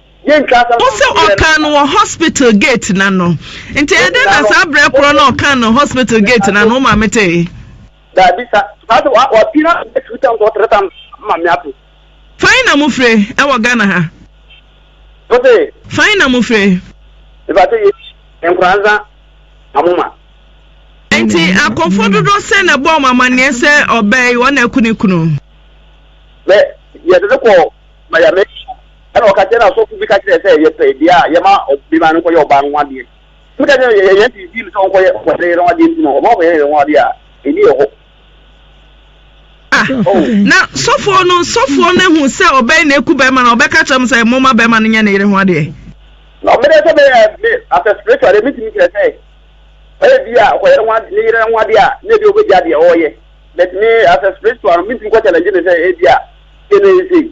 Yɛntwa asɛm Ɔse anto yɛn ɔkaa no wɔ hospital gate no ano nti ɛyɛ dɛn na saa berɛ korɔ no a ɔkaa no hospital gate no ano wo maame tee? Daabi sa saa sɛ wa wapie na bɛ two times or three times ama me ato. Fan na mo fire ɛwɔ Ghana ha? Ose. Fan na mo fire? Mepakyɛ yɛ nkora nsa na mo ma. Nti akɔfoɔ dodoɔ sɛn na ɛbɔɔ mo amaneɛ sɛ ɔbaa yi wɔn na aku ne kunu? Bɛ yɛde no kɔɔ Miami. Ɛna ɔka kyerɛ no asɔfo bi ka kyerɛ sɛ yɛpɛ deɛ a yɛma ɔbɛma no nkɔyɛ ɔbaa no ho adeɛ. Ɛna ka kyerɛ yɛ yɛn ti di no sɛ ɔnkɔyɛ ɔkɔyɛ yɛn ho adeɛ nti no ɔma ɔkɔyɛ yɛn ho adeɛ a ɛni ɛhɔ. Ah na sɔfoɔ no sɔfoɔ no ehu sɛ ɔbaa yi na eku bɛrima no ɔbɛka kyerɛ mo sɛ mo ma bɛrima no nyɛ ne yere ho adeɛ. Na ɔbɛdɛ sɛ bɛyɛ me as a spiritual deɛ mi ti mi kyerɛ sɛ ɔyɛ bi a ɔkɔyɛ ne ho adeɛ ne yere ho adeɛ a ne ebi ɔbɛgya deɛ ɔɔyɛ but me as a spiritual no mi ti mi kɔ challenge ne sɛ ebi a yɛ ne yɛ sei.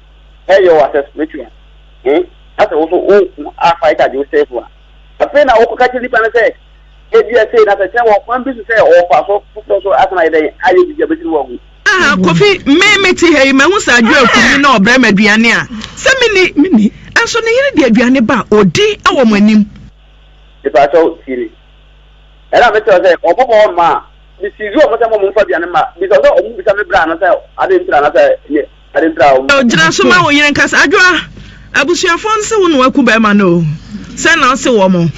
Hey yo asɛ spiritual eh asɛ wo so wo nko a fight agye wo safe a afei na wo kɔ ka kyerɛ nipa no sɛ ebia sei na sɛ kyerɛ wɔ kwan bi so sɛ wɔ fa so foforɔ so asan ayɛ dɛn ayɛ bibi abɛsiri wɔ agu. Ah Kofi me me te ha yi mahu sɛ adwo aku me na ɔbrɛ me aduane a sɛ me ni me ni nso ne yere de aduane ba a ɔdi wɔ mo anim. Mepakyɛw tie me ɛna me kyerɛw sɛ ɔmo bɔ hɔ ma a me siizi ɔmo sɛ mo ɔmo mfa aduane mma bisa sɛ ɔmo bisa me bra no sɛ adɛn ntira na sɛ ne. Gyina so ma wo yere nkasa. Adwoa, abusuafoɔ no se wo na waku bɛrima no o. Sɛ na ɔse wɔn.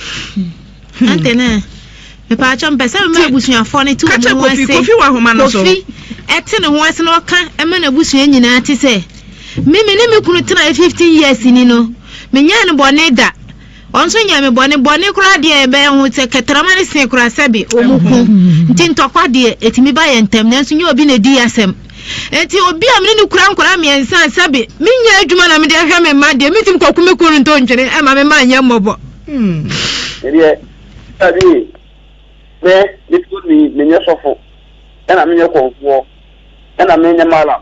Hmm. Ante ne. Mepaakyɛ mpɛ sɛ mema abusuafoɔ no te wɔn ho ase. Kofi wɔ ahoma no so. Kofi ɛte ne ho ase na ɔka ɛma n'abusua nyinaa te sɛ. Mimi ne me kunu tena 15 years ni no. Menyɛ no bɔne da. Wɔn nso nyɛ me bɔne. Bɔne koraa deɛ ɛbɛyɛ ho sɛ kɛtrɛma no sen koraa sɛbe wɔn ko. Nti ntɔkwa deɛ, ɛtumi ba yɛ ntɛm, nanso nyɛ obi na ɛdi yɛ asɛm. Enti obi a me ne no kura nkwadaa mmiɛnsa a sɛbe menyɛ adwuma na mede ahwɛ me mma deɛ, mɛtumi kɔku me kunu ntontwene ɛmma me mma nyɛ mmɔbɔ. Me deɛ, sɛbe me, me kunu ni, menyɛ sɔfo, ɛna menyɛ kɔmfoɔ, ɛna menyɛ malam.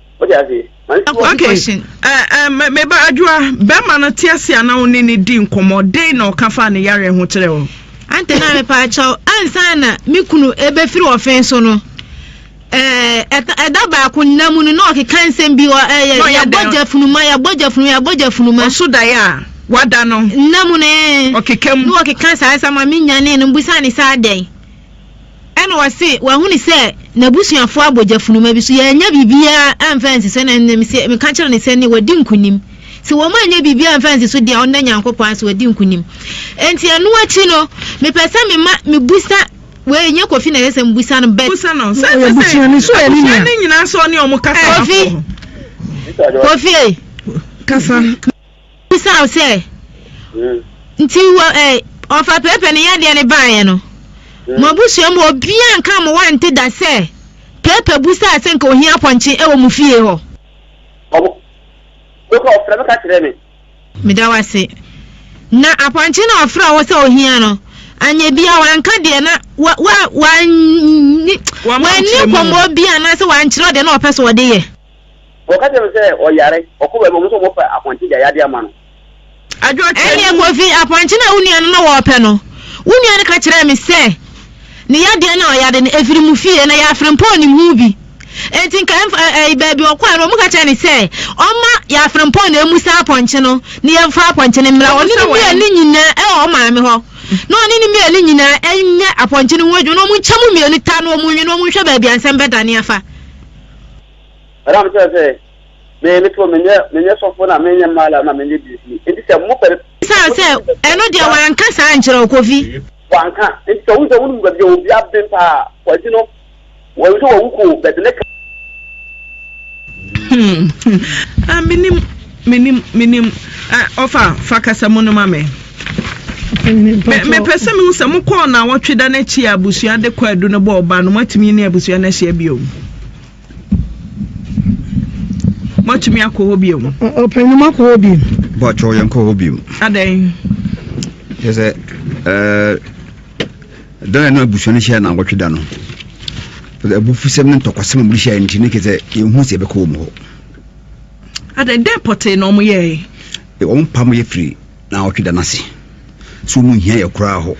Wode ase? Okay, eh, eh, meba adwoa, bɛrima no te ase a na wo ne ne di nkɔmmɔ, dɛn na ɔka faa ne yareɛ ho kyerɛ wo? Ante na mepa akyɛw, ansa na me kunu ebefiri ɔfen so no, eh, ɛda baako nna mu no na ɔkeka nsɛm bi, ɛyɛ eh, yɛbɔ gya funuma, yɛbɔ gya funuma, yɛbɔ gya funuma. Ɔso daeɛ a wada no. Nna mu no, eh, ɔkeka mu. Na ɔkeka saa sɛ ma me nyane no, busa ne saa dɛn. Ɛnna ɔse, Wahunu sɛ n'abusuafoɔ abɔ gyafunuma bi so. Yɛannya biribiara amfa ansi so. Ɛnna ɛnnɛ mese, meka kyerɛ no sɛ, nnɛ wadi nkonim. Sɛ wɔannya biribiara amfa ansi so deɛ a, ɔnnɔ Nyankopɔn ara sɛ wadi nkonim. Enti ɛno akyi no, mepɛ sɛ mema mebusa wei, ɛnyɛ Kofi na ɛsɛ sɛ mebusa no, but. Busa no. Sɛ ɛsɛ sɛ abusua no nyinaa sɛ ɔne wɔn kasa. Kofi, Kofi ei. Kasa. Mebisa wo sɛ, nti wɔ ɛ ɔfa pɛɛpɛ ne yadeɛ no baeɛ no, mo abusua mu obiara nka mo wante da sɛ pɛɛpɛ busaa sɛ nka ohia pɔnkye wɔ mo fie hɔ? Ɔmo, mekɔ ɔfrɛ me ka kyerɛ me. Meda wo ase. Na apɔnkye no a ɔfrɛɛ wo sɛ ohia no, anyɛ biara wanka deɛ na wa wa wanni wanni nkɔmmɔ biara anaasɛ wankyerɛ wo deɛ na ɔpɛ sɛ ɔde yɛ? Wɔka kyerɛ no sɛ ɔyare, ɔkɔ baabi a wɔn nso wɔbɛfa apɔnkye de ayade ama no. Ɛnneɛ Kofi, apɔnkye no a wo nua no na wɔrepɛ no, wo nua no ka kyerɛɛ me sɛ ne yadeɛ ne ɔyade no firi mo fie, na Yafre mpo nnim ho bi. Enti nka ɛmfa ɛɛ baabi a ɔkɔeɛ no, wɔka kyerɛɛ no sɛ ɔmma Yafre mpo na ɛmmu saa apɔnkye no na yɛmfa apɔnkye no mmra ɔne no mmienu nyinaa ɛwɔ wɔn maame hɔ, na ɔne no mmienu nyinaa nyɛ apɔnkye no ho adwuma, na wɔnkyɛ mu mmienu ta na wɔnwe na wɔnhwɛ baabi a nsɛm bɛdane afa. Ɛna mekyerɛ sɛ me me to menyɛ menyɛ sɔfo na menyɛ mala na menyɛ biribi nti sɛ mo pɛ. Saa sɛ ɛno deɛ wanka saa nkyerɛ wo kofi. Wanka nti sɛ wo sɛ wo mu baabi a obi aben paa kwagye no wɔn sɛ wɔn wuko bɛde ne ka. Hmm hmm a menim. Menim, menim. Eh, ɔfa, fa kasamu no ma me. Me, mepɛ sɛ mehu sɛ mokɔɔ naawɔtwe da no akyi a abusua de kwaadu no bɔɔ ba no, moatumi ne abusua no ahyia bio? Moatumi akɔ hɔ bio? Ɔpanyin, moakɔ hɔ bio? Bɔtɔ, yɛn kɔ hɔ bio. Adɛn? Kyɛ sɛ, ɛɛ. da na ɛna abusua no hyia na awɔtwe da no abufusɛm ne ntɔkwasɛm a mode hyia nti ne kɛ sɛ yɛhu sɛ yɛbɛkɔ wɔ mu hɔ Adɛn dɛn pɔtee na wɔyɛe? Wɔpamoo yɛn firii nnawɔtwe da no ase sɛ wɔnhia yɛn koraa hɔ.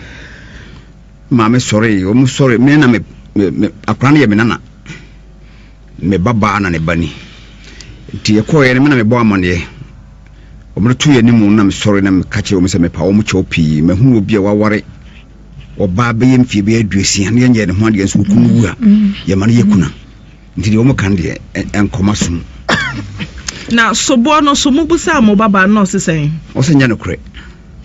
Me maame sɔree, wɔsɔree. Me na me, me, me, akwadaa no yɛ me nana. Me babaa na ne ba ni. Nti yɛkɔeɛ no, me na mebɔɔ amanneɛ. Wɔbɛtoo yɛn anim no na mesɔre na meka kyerɛ wɔn sɛ mepa wɔn kyɛw pii. Mahunu obi a waware ɔbaa bɛyɛ mfeɛ bɛyɛ aduosia na yɛnyɛɛ ne ho adeɛ nso wɔkum no wu a, yɛma no yɛ kuna. Nti deɛ wɔka no deɛ, ɛnkɔ m'asom mu. Na soboɔ no nso, mobisaa mo babaa no na ɔse sɛn? Ɔse ɛnyɛ nokorɛ.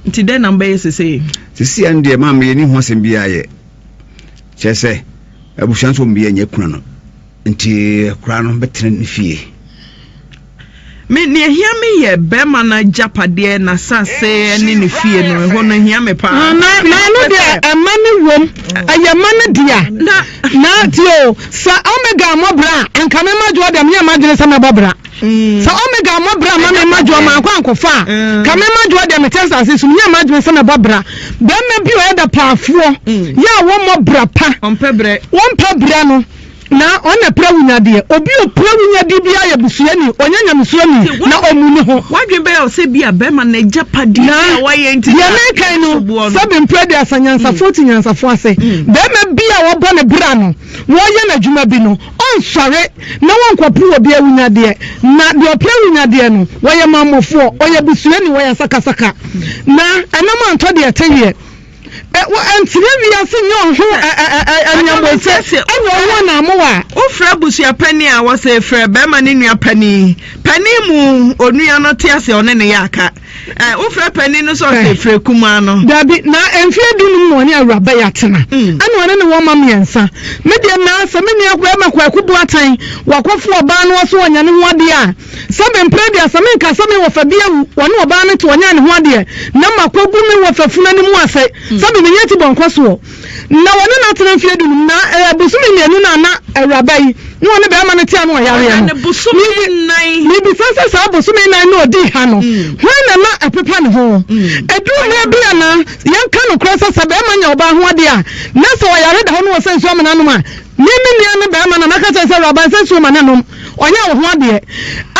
Nti dɛn na mobɛyɛ seesei? Seesei ara no deɛ, maame, yɛnni ho asɛm biara yɛ. Kyerɛ sɛ, abusua no nso wɔn biara nnya akunu no, nti akwadaa no bɛtena ne fie. Me, nea ehia me yɛ barima no agyapadeɛ, n'asase ne ne fie no. Ɛhɔ no hia me paa. Ah, na, na ɛno deɛ, ɛma no wom. Ɛyɛ ma no dea. Na, na tie o, sɛ Omega mmɔ bra a, anka me mma Joe deɛ, menyɛ m'adwene sɛ mɛbɔ bra. Mm. Sɛ Omega mmɔ bra ma me mma Joe, mankɔ ankɔfa a, mm. ka me mma Joe deɛ, mete asase so, menyɛ m'adwene sɛ mɛbɔ bra. Bɛrima bi ɔyɛ dapaafoɔ, mm. yɛ a wɔmmɔ bra pa. Wɔmpɛ brɛ. Wɔmpɛ brɛ no. Na ɔno na ɛpira awunyadeɛ. Obi a ɔpira awunyadeɛ biara yɛ busuani, ɔnyɛ nyamesuroni, na ɔmmu ne ho. W'adwene bɛyɛ wo sɛ ebia barima n'agyapadeɛ Na, a wayɛ nti deɛ na mereka yi no, ɛso boɔ no. sɛbe mprɛ aduasa nyansafoɔ te nyansafoɔ ase, barima bi a wɔabɔ ne bra no, wɔreyɛ no adwuma bi no, ɔnsɔre na wɔnkɔpere obi awunyadeɛ. Na deɛ ɔpere awunyadeɛ no, ɔyɛ mammɔfoɔ, ɔyɛ busuani, ɔyɛ asakasaka, na ɛnam antɔ deɛ ɛteyeɛ. Wɔ antsena wiase nye ɔho anyamuɔdze nye ɔho anaamow a. Wofrɛ abusua panyin a, wɔse frɛ bɛrima ne nua panyin. Panyin mu onua no te ase a ɔne no yɛ aka. Ɛ, wofrɛ panyin no so a, ɔse frɛ kumaa no. Dabi, na mfe eduonum na ɔne Awuraba yi atsena, ana ɔne no wɔ mma miɛnsa. Me deɛ, na sɛ me nua bɛrima Kwaku Boateng, wɔakɔfo ɔbaa na ɔse ɔnya no ho ade a, Sɛ me mpere deɛ sɛ menka sɛ me wɔfa bi awu ɔne ɔbaa no te ɔnyɛ ne ho adeɛ na makɔgu me wɔfa funu anim ase sɛ me menya ti bɔnkɔ soɔ na ɔne no atena mfeɛ dunum na eh, bosome mmienu na na awuraba yi na ɔne bɛrima no te ano ɔyareɛ no mebisa sɛ saa bosome nan na ɔdii ha no hmm. hwan na na ɛpepa ne ho ɛduru hmm. mmerɛ bi a na yɛnka nokorɛ sɛ sɛ bɛrima nya ɔbaa ho adeɛ a na sɛ ɔyare da hɔ no wɔ sɛ nsuo amena nom a ne me nua no bɛrima na maka kyerɛ sɛ awuraba sɛ nsuo ma ne nom Ɔyɛ wo ho adeɛ.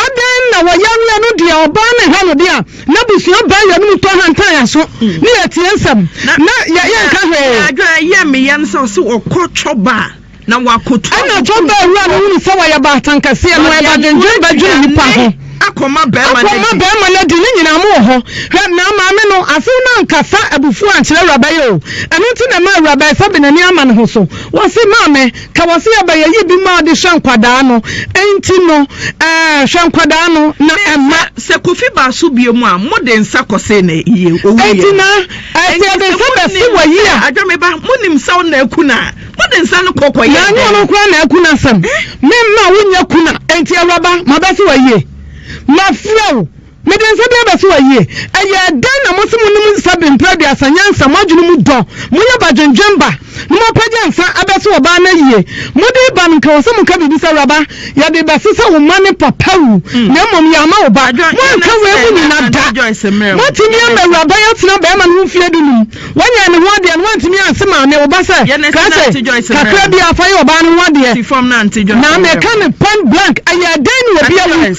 Adɛn na wɔyareɛ no deɛ ɔbaa ne ha no deɛ a n'abusua baa yɛn mu tɔ hantan yɛn aso ne yɛ tie nsɛm na yɛ yɛ nka hwee. Deɛ adwene yɛ me ya no sɛ ɔse ɔkɔ cɔba a na wako tu agu ɛna cɔba awura no hunu sɛ wɔyɛ baatan kɛseɛ no ɛba dwendwen bɛ dwene nipa ho akɔ ma bɛɛma no adi akɔ ma bɛɛma no adi ne nyinaa mo wɔ hɔ hwɛ na maame no asew no ankasa abufuo ankyerɛ awuraba yi o ɛno nti na ɛma awuraba yi sɛ benani ama ne ho so wɔse maame Ka wɔ se yɛbɛyɛ yi bi maa de hwɛ nkwadaa no, enti no eh, hwɛ nkwadaa no na ɛmma. Sɛ Kofi baa so biom a, mo de nsa kɔsee no eie, owuiɛ. Enti na eh, sɛ yɛde nsa bɛse wɔ yi a. Adwameba, mo nim sɛ wo na aku no a, mo de nsa no kɔ kɔ yɛ dɛn? Na anyɛ ɔno koraa na aku no asɛm, me mma wo nyɛ kuna, enti Awuraba, mabɛse wɔ ayie, mafrɛ wo. Mede nsa bi abɛso ayie. Ɛyɛɛ dɛn na mose monom nsa bere mpra aduasa nyansa mo adwene mu dɔ moyɛ ba dwendwen ba no moapagya nsa abɛso ɔbaa no ayie mode reba no nka wɔ sɛ moka biribi sɛ awuraba yɛde rebɛso sɛ wo ma ne papa wu na mmom yɛama wo ba moanka wei mu nyina da moatumi ama awuraba yi atena bɛrima no ho mfeɛ du num wanyɛ ne ho adeɛ no woantumi anse ma ne wo ba sɛ ka sɛ kakra bi afa yɛ ɔbaa no ho adeɛ na meka no point blank ɛyɛɛ dɛn ne obi awu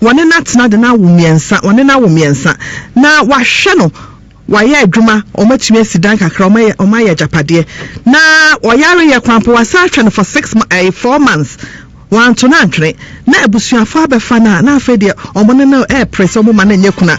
Wɔne no atena de no awo mmiɛnsa, wɔne no awo mmiɛnsa, na wɔahwɛ no, wɔayɛ adwuma, wɔatumi asi dan kakra, wɔayɛ, wɔayɛ agyapadeɛ, na ɔyareeɛ koraa mpo, wɔasan ahwɛ no for six mo, ɛɛ, four months, wɔanto no antwene, na abusuafoɔ abɛfa no a, na afei deɛ wɔne no repere sɛ wɔmma no nyɛ kunu a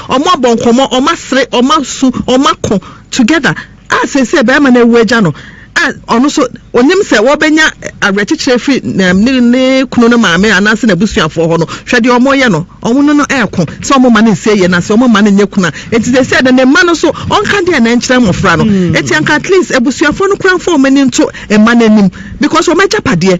Wɔabɔ nkɔmmɔ, wɔasere, wɔasu, wɔako together a seesei barima no awu agya no a ɔno nso onim sɛ wɔbɛnya awerɛkyekyerɛ afiri ne ne kunu no maame anaasɛ n'abusuafoɔ hɔ no, hwɛ deɛ wɔreyɛ no, wɔn no no ɛreko sɛ wɔn mma no nsie yei na sɛ wɔn mma no nyɛ kunu a enti seesei no ne mma no nso wɔnka deɛn na ɛnkyerɛ mmɔfra no. Enti anka at least abusuafoɔ no koraa mfa wɔn ani nto mma no anim because wɔn agyapadeɛ.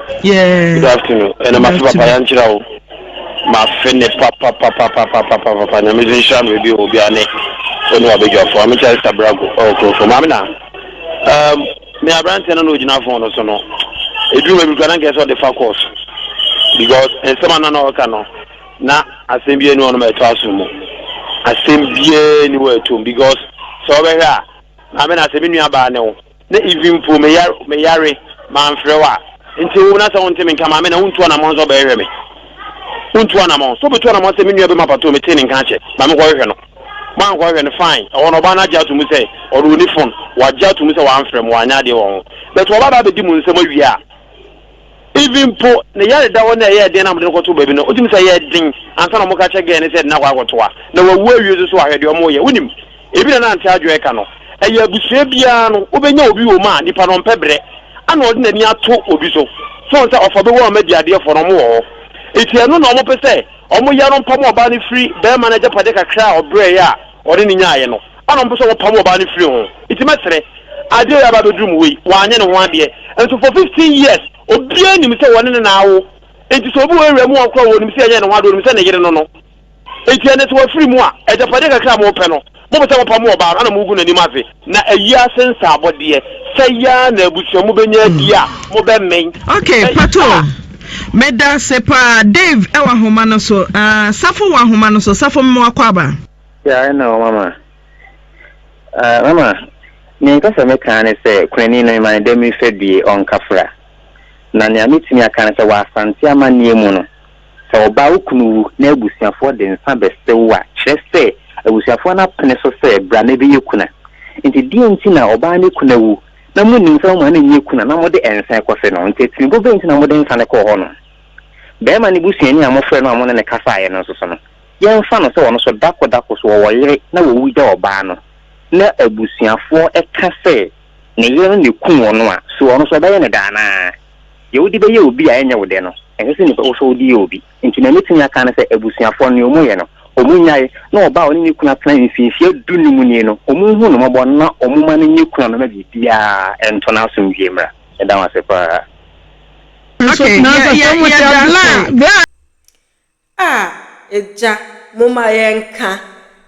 Good afternoon ɛna mafe papa yankyerɛ wo mafe ne papapapapapapapa nyame so nhyira no baabi wɔ obiara ne ɔne wabɛdwafo ame kyɛ sista brago ɔwɔ kurofo maame na um, me aberanteɛ no na ɔgyina fon no so no ɛduru baabi kora na nkɛ sɛ ɔde fa kɔɔ so because nsɛm ana na ɔka no na asɛm biara ni ɔnom ɛtɔ aso mu asɛm biara ni wɔ ɛtom because sɛ ɔbɛhwɛ a maame na sɛ me nua baa ne wo Na even mpo meyar meyare, mamfrɛ wo a, enti ewom na sɛ wonte me nka, Maame, na wontu anamɔn sɛ wobɛhwehwɛ me. Wontu anamɔn. Sɛ wobetu anamɔn sɛ me nua bɛma patoo metee ne nka akyɛ, ma menkɔhwehwɛ no. Moankɔhwehwɛ no, fine. Ɛhɔ no, ɔbaa no agye ato mu sɛ ɔno onni fon. Wagye ato mu sɛ wamfrɛ mo, wanyɛ adeɛ wɔ ho. But ɔba bɛabedi mo nsam awie a. Even mpo ne yare da hɔ na ɛyɛ den na wɔde no kɔtoo baabi no, wotumi sɛ ɛyɛ den ansa na wɔka kyerɛ girl no sɛ yɛde no akɔ akɔto a, na wawu awie nso so a, hwɛ deɛ wɔyɛ. Wonim, ebina na Auntie Adjoa reka no, ɛyɛ abusua biara no wobɛnya obi wɔ mu a nipa no ɔmpɛ brɛ ana ɔde n'ani ato obi so sɛ ɔnsɛ ɔfa bɛwu ama madi adeɛfoɔ no, wɔwɔ hɔ nti ɛno na wɔpɛ sɛ wɔyɛ no mpam ɔbaa no firi barima no agyapadeɛ kakra a ɔbrɛeɛ a ɔde no nyaaeɛ no. Ana ɔmpɛ sɛ wɔpam ɔbaa no firi ho? Nti mɛsere? Adeɛ a yɛaba abɛduru mu wei, wanyɛ ne ho adeɛ. Nso for fifteen years, obiara nim sɛ wɔne no na awo. Nti sɛ obi wɔ area mu hɔ koraa a ɔnim sɛ yɛnyɛɛ ne ho adeɛ, ɔnim sɛ ne yere no no. Nti ɛnnɛ sɛ wafiri mu a, agyapadeɛ kakra a mopɛ no, mopɛ sɛ mopam ɔbaa no, ana mogu n'anim ase? Na ayi ase nsaabɔ deɛ, sɛ yaa na abusua mobɛnya adie a, mobɛmmen. Ok, patoo. Medaase paa. Dave wɔ ahoma no so? Aah, Safo wɔ ahoma no so? Safo mema w'akwaaba. Yeah, I know, Mama. Uh, Mama, nea nka sɛ meka ne sɛ kunani no mema no dɛ memfa bie ɔnkafra. Na nea metumi aka ne sɛ wɔ Asante amanneɛ mu no, sɛ ɔbaa wo kunu wu na abusuafoɔ de nsa bɛsrɛ wo a, kyerɛ sɛ abusuafoɔ no apene so sɛ bra na ɛbɛyɛ kuna. Nti deɛ nti na ɔbaa ne kuna wu na monim sɛ moma no nyɛ kuna na mode nsa kɔse no? Nti atirimpɔ bɛn nti na mode nsa no kɔɔ hɔ no? Barima no busuani a mofrɛɛ no a mo ne no kasaeɛ no nso so no, yɛmfa no sɛ ɔno nso dako dako so ɔwɔ yere na wawu gya ɔbaa no, na abusuafoɔ ka sɛ ne yere no na ɛkum ɔno a, so ɔno nso wɔbɛyɛ no dɛ anaa? Deɛ wode bɛyɛ obi a ɛnyɛ wo dɛ no, ɛnsɛ sɛ nnipa wo nso wode yɛ obi. Nti nea mɛtumi aka ne sɛ abusuafoɔ no nea wɔyɛ no, wɔnnyae na ɔbaa a ɔne ne kunu atena mfinfie du no mu nie no, wɔnhu no mmɔbɔ na wɔmma no nyɛ kunu a mɛma biribiara nto no asomdwoeɛ mmra. Meda mo ase paa. Okay, yeah, yeah, yeah, blah, blah. A, Agya, momma yɛnka.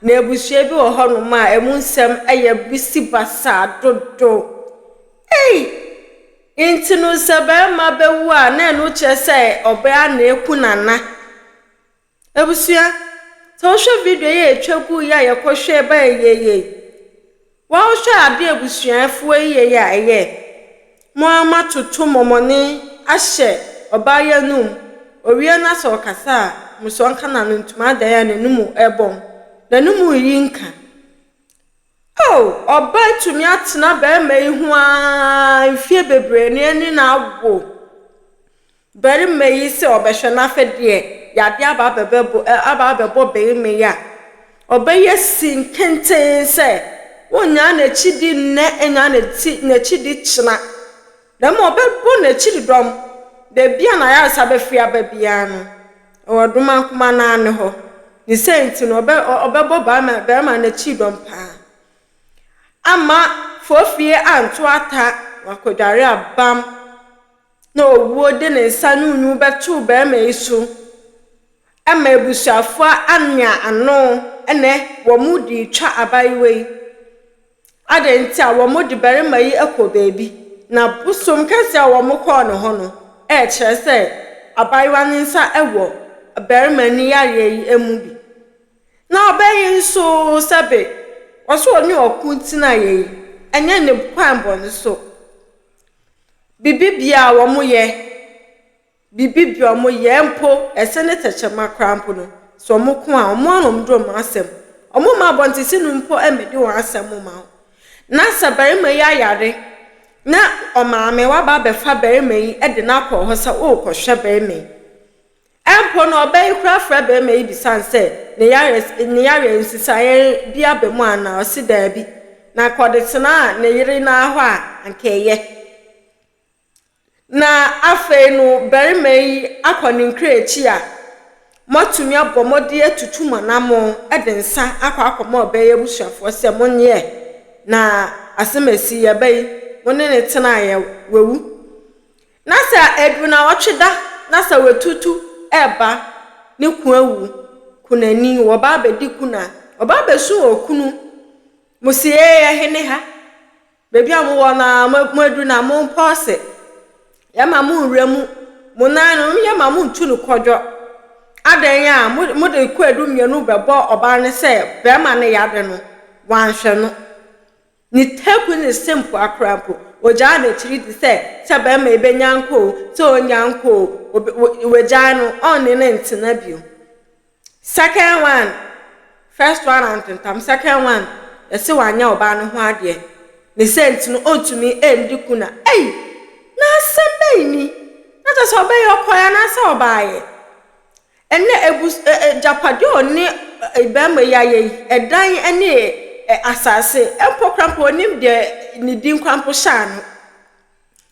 Na abusua bi wɔ hɔnom a emu nsɛm yɛ bisibasaa dodo. Ei! Enti no sɛ barima bɛwu a, na ɛno kyerɛ sɛ ɔbaa na ɛku nana? Abusua, sɛ wohwɛ video yi a ɛtwa guu yi a yɛkɔhwɛɛ baeɛ yei, Wɔhwɛ a bia abusua afuwa yiye yɛ a ɛyɛ mo ara moatoto mɔmɔne ahyɛ ɔbaa yi anum, ɔwie no a sɛ ɔkasa a moso ɔnka n'ano ntom adan a n'anum ɛbɔm, n'anum reyi nka. Oh! Ɔbaa atumi atena barima yi ho ara mfie bebree na ɛne no awo. Barima yi sɛ ɔbɛhwɛ no afɛ deɛ yadeɛ aba abɛbɛbɔ aba abɛbɔ barima yi a, ɔbɛyɛ si nkenten sɛ ɔnnyaa n'akyidi nnɛ nnyaa n'ati n'akyidi kyena, na mmom ɔbɛbɔ n'akyididɔm baabi a n'ayaresa bɛfiri aba biara no, ɛwɔ Domankoma no ara ne hɔ. Ne sɛ nti no ɔbɛ ɔbɛbɔ barima barima no akyididɔm pa ara amma Fofie anto ata na wakɔdware abam. na owuo de ne nsa no nwu bɛtoo barima yi so ma abusuafoɔ anwea ano ɛnɛ wɔn de retwa abaayewa yi adɛn nti a wɔn de barima yi kɔ baabi na bosom kɛseɛ a wɔn kɔɔ ne hɔ no ɛkyerɛ sɛ abaayewa ne nsa wɔ barima ne yareɛ yi mu bi na ɔbɛ yi nso sɛbe wɔso ɔne ɔko tena yɛ yi ɛnyɛ ne kwan bɔ ne so. Bibibea a wɔyɛ, bibibea a wɔyɛ mpo, ɛsɛ ne tɛkyerɛma koraa mpo no, sɛ wɔko a, wɔn ara na wɔde wɔn asɛm. Wɔmma abɔntesini mpo mmɛdi wɔn asɛm mma wo. Na sɛ barima yi ayare na ɔmaame waba abɛfa barima yi de no akɔ hɔ sɛ worekɔhwɛ barima yi, Mpo na ɔbaa yi koraa frɛɛ barima yi bisae sɛ ne yareɛ ne yareɛ nsesaeɛ bi aba mu anaa, ɔse daabi, na anka ɔde tenaa ne yere no ara hɔ a anka ɛyɛ. Na afei no barima yi akɔ ne nkra akyi a, moatumi abɔ mmɔden atutu mo anamo de nsa akɔ akɔma ɔbaa yi abusuafoɔ sɛ monyeɛ na asɛm a ɛsii aba yi mo ne no tenaeɛ wawu. Na sɛ adu naawɔtwe da na sɛ watutu reba ne kun awu, kunani, wɔba abɛdi kun a, wɔba abɛsu wɔ kunu mo se, Ee, ɛhe ne ha? Baabi a mowɔ no ara, moadu na mompɔɔse. Yɛmma mo nwura mu. Mo nan no, yɛmma montu no kɔdwɔ. Adɛn a mode kwaadu mmienu bɛbɔ ɔbaa no sɛ barima no yare no, wanhwɛ no? Ne ta gu ne se mpoa koraa mpo. Ogyaa n'akyiri di sɛ, sɛ barima yi bɛnya nkɔ o, sɛ ɔnnya nkɔ o, wagyaa no, ɔnne no ntena bio. Second one, first one antentam, second one, yɛse wanyɛ ɔbaa no ho adeɛ. Ne sɛ nti no, ɔntumi ndi kuna. Ei! Na asɛm bɛn ni? Na kyerɛ sɛ ɔbɛyɛ ɔkɔeɛ anaasɛ ɔbaeɛ? Ɛnnɛ, abus ɛ ɛ agyapadeɛ a ɔne ɛ barima yi ayɛ yi, ɛdan ne ɛ ɛ asase, mpo koraa mpo ɔnnim deɛ ne din koraa mpo hyɛ ano.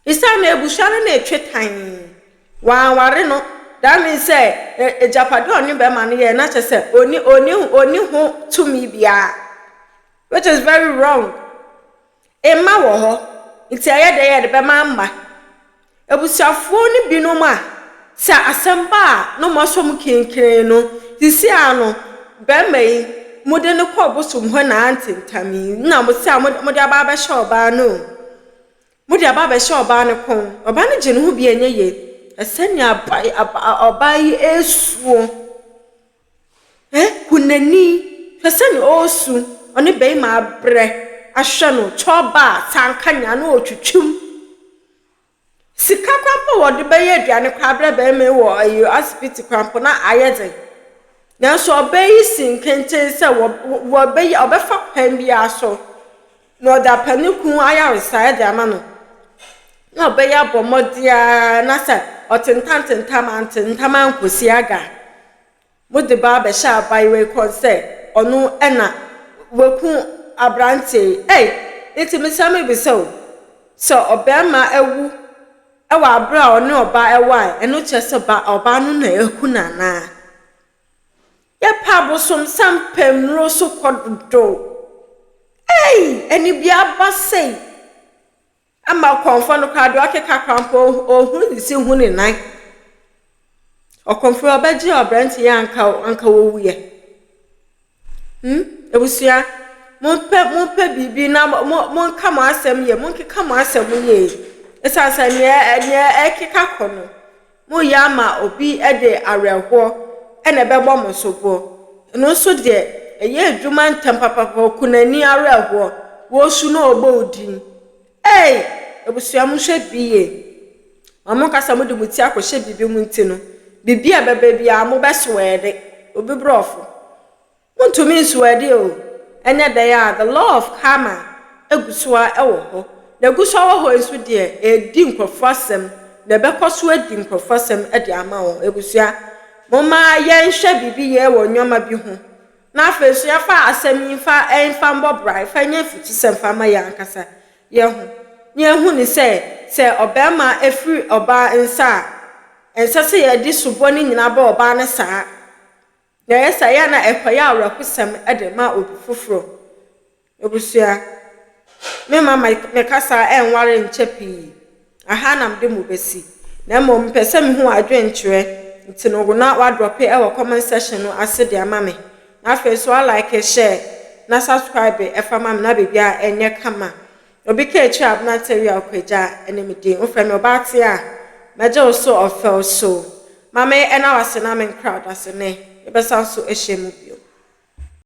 Esiane no, abusua no ne retwe tann. Wanware no. That means sɛ ɛ ɛ agyapadeɛ a ɔne barima no yɛɛ no, na kyerɛ sɛ ɔnni ɔnni ɔnni ho tumi biara, which is very wrong. Mma wɔ hɔ, nti ɛyɛ dɛ yɛde bɛma mma. Abusuafoɔ no binom a, sɛ asɛm ba a na wɔn asɔ mu kirinkirin no, sisi ara no, barima yi, mode no kɔ ɔbosom hɔ na ante ntam yi, na mo se a mode mode aba abɛhyɛ ɔbaa no o. Mode aba abɛhyɛ ɔbaa no kɔn. Ɔbaa no gye ne ho bi a ɛnyɛ yie. Hwɛ sɛnea aba aba ɔbaa yi resuo. Eh hu nani hwɛ sɛnea ɔresu ɔne barima abrɛ ahwɛ no cɔba a sanka nyaa na ɔretwitwim sika koraa mpo wɔde bɛyɛ aduane koraa abrɛ barima yi wɔ ayi asibiti koraa mpo na ayɛ den nanso ɔbaa yi si nkenten sɛ wɔ wɔbɛyɛ ɔbɛfa kwan biara so. na ɔde apɛ ne kunu ayaresa de ama no, na ɔbɛyɛ abɔ mmɔden ara na sɛ ɔtentam tentam antentam ankosi aga a, mode ba abɛhyɛ abaayewa yi kɔn sɛ ɔno na waku aberanteɛ yi. Ei, nti mesrɛ mebisa o, sɛ ɔbarima awu wɔ abere a ɔne ɔbaa ɛwɔ a, ɛno kyerɛ sɛ ɔbaa no na aku no anaa? Yɛpɛ abosomsɛm pɛ nnuro so kɔ dodo ei anibia ba sei ama ɔkɔmfoɔ no koraa deɛ ɔkeka koraa mpo ɔhunu ne si hu ne nan ɔkɔmfoɔ ɔbɛgye ɔbrante yɛ anka anka wɔwuiɛ hmm abusua mompɛ mompɛ biribi na mo monka mo asɛm yɛ monkeka mo asɛm yie ɛsiane sɛ neɛ neɛ ɛkeka kɔ no Moyɛ ama obi de awerɛhoɔ na ɛbɛbɔ mo soboɔ, ɛno nso deɛ ɛyɛ adwuma ntɛm papapapa, okunani awerɛhoɔ, wosu na ɔbɔ wo din. Ei! Abusua monhwɛ bi yie, ma monka sɛ mode mo ti akɔhyɛ biribi mu nti no, biribi a ɛbɛba biara mobɛsoɛɛde, obi borɔfo. Wontumi nsow adi o, ɛnyɛ dɛn ara a the law of karma gu so ara wɔ hɔ, na egu so ara wɔ hɔ yi nso deɛ, ɛredi nkurɔfoɔ asɛm, na ɛbɛkɔ so adi nkurɔfoɔ asɛm de ama wɔn. Abusua, momma yɛnhwɛ biribi yie wɔ nneɛma bi ho, na afei nso yɛmfa asɛm yi mfa mfa mmɔ bra, mfa nyɛ mfutusɛm mfa mma yɛn ankasa yɛn ho, na yɛahu no sɛ, sɛ ɔbarima firi ɔbaa nsa a, ɛnsɛ sɛ yɛde soboɔ no nyinaa ba ɔbaa no saa. Nea ɛyɛ saa, ɛyɛ a na ɛkɔyɛ awerɛhosɛm de ma obi foforo. Abusua, me mma me kasa anware nkyɛ pii, na ha na mede mo besi. Na mmom mepɛ sɛ mihu wɔn adwenkyerɛ, nti no wo na woadrɔpe wɔ comment section no ase de ama me. Na afei nso alike, share, na subscribe fa ma me na biribiara nyɛ kama. Obi ka akyire abena tawia okwagya ɛne me din wofrɛ me ɔbaa tea a mɛgye wo so ɔfɛw so ma me ɛna wase na me nkra ɔdasene yɛbɛsan so ahyia mu biom.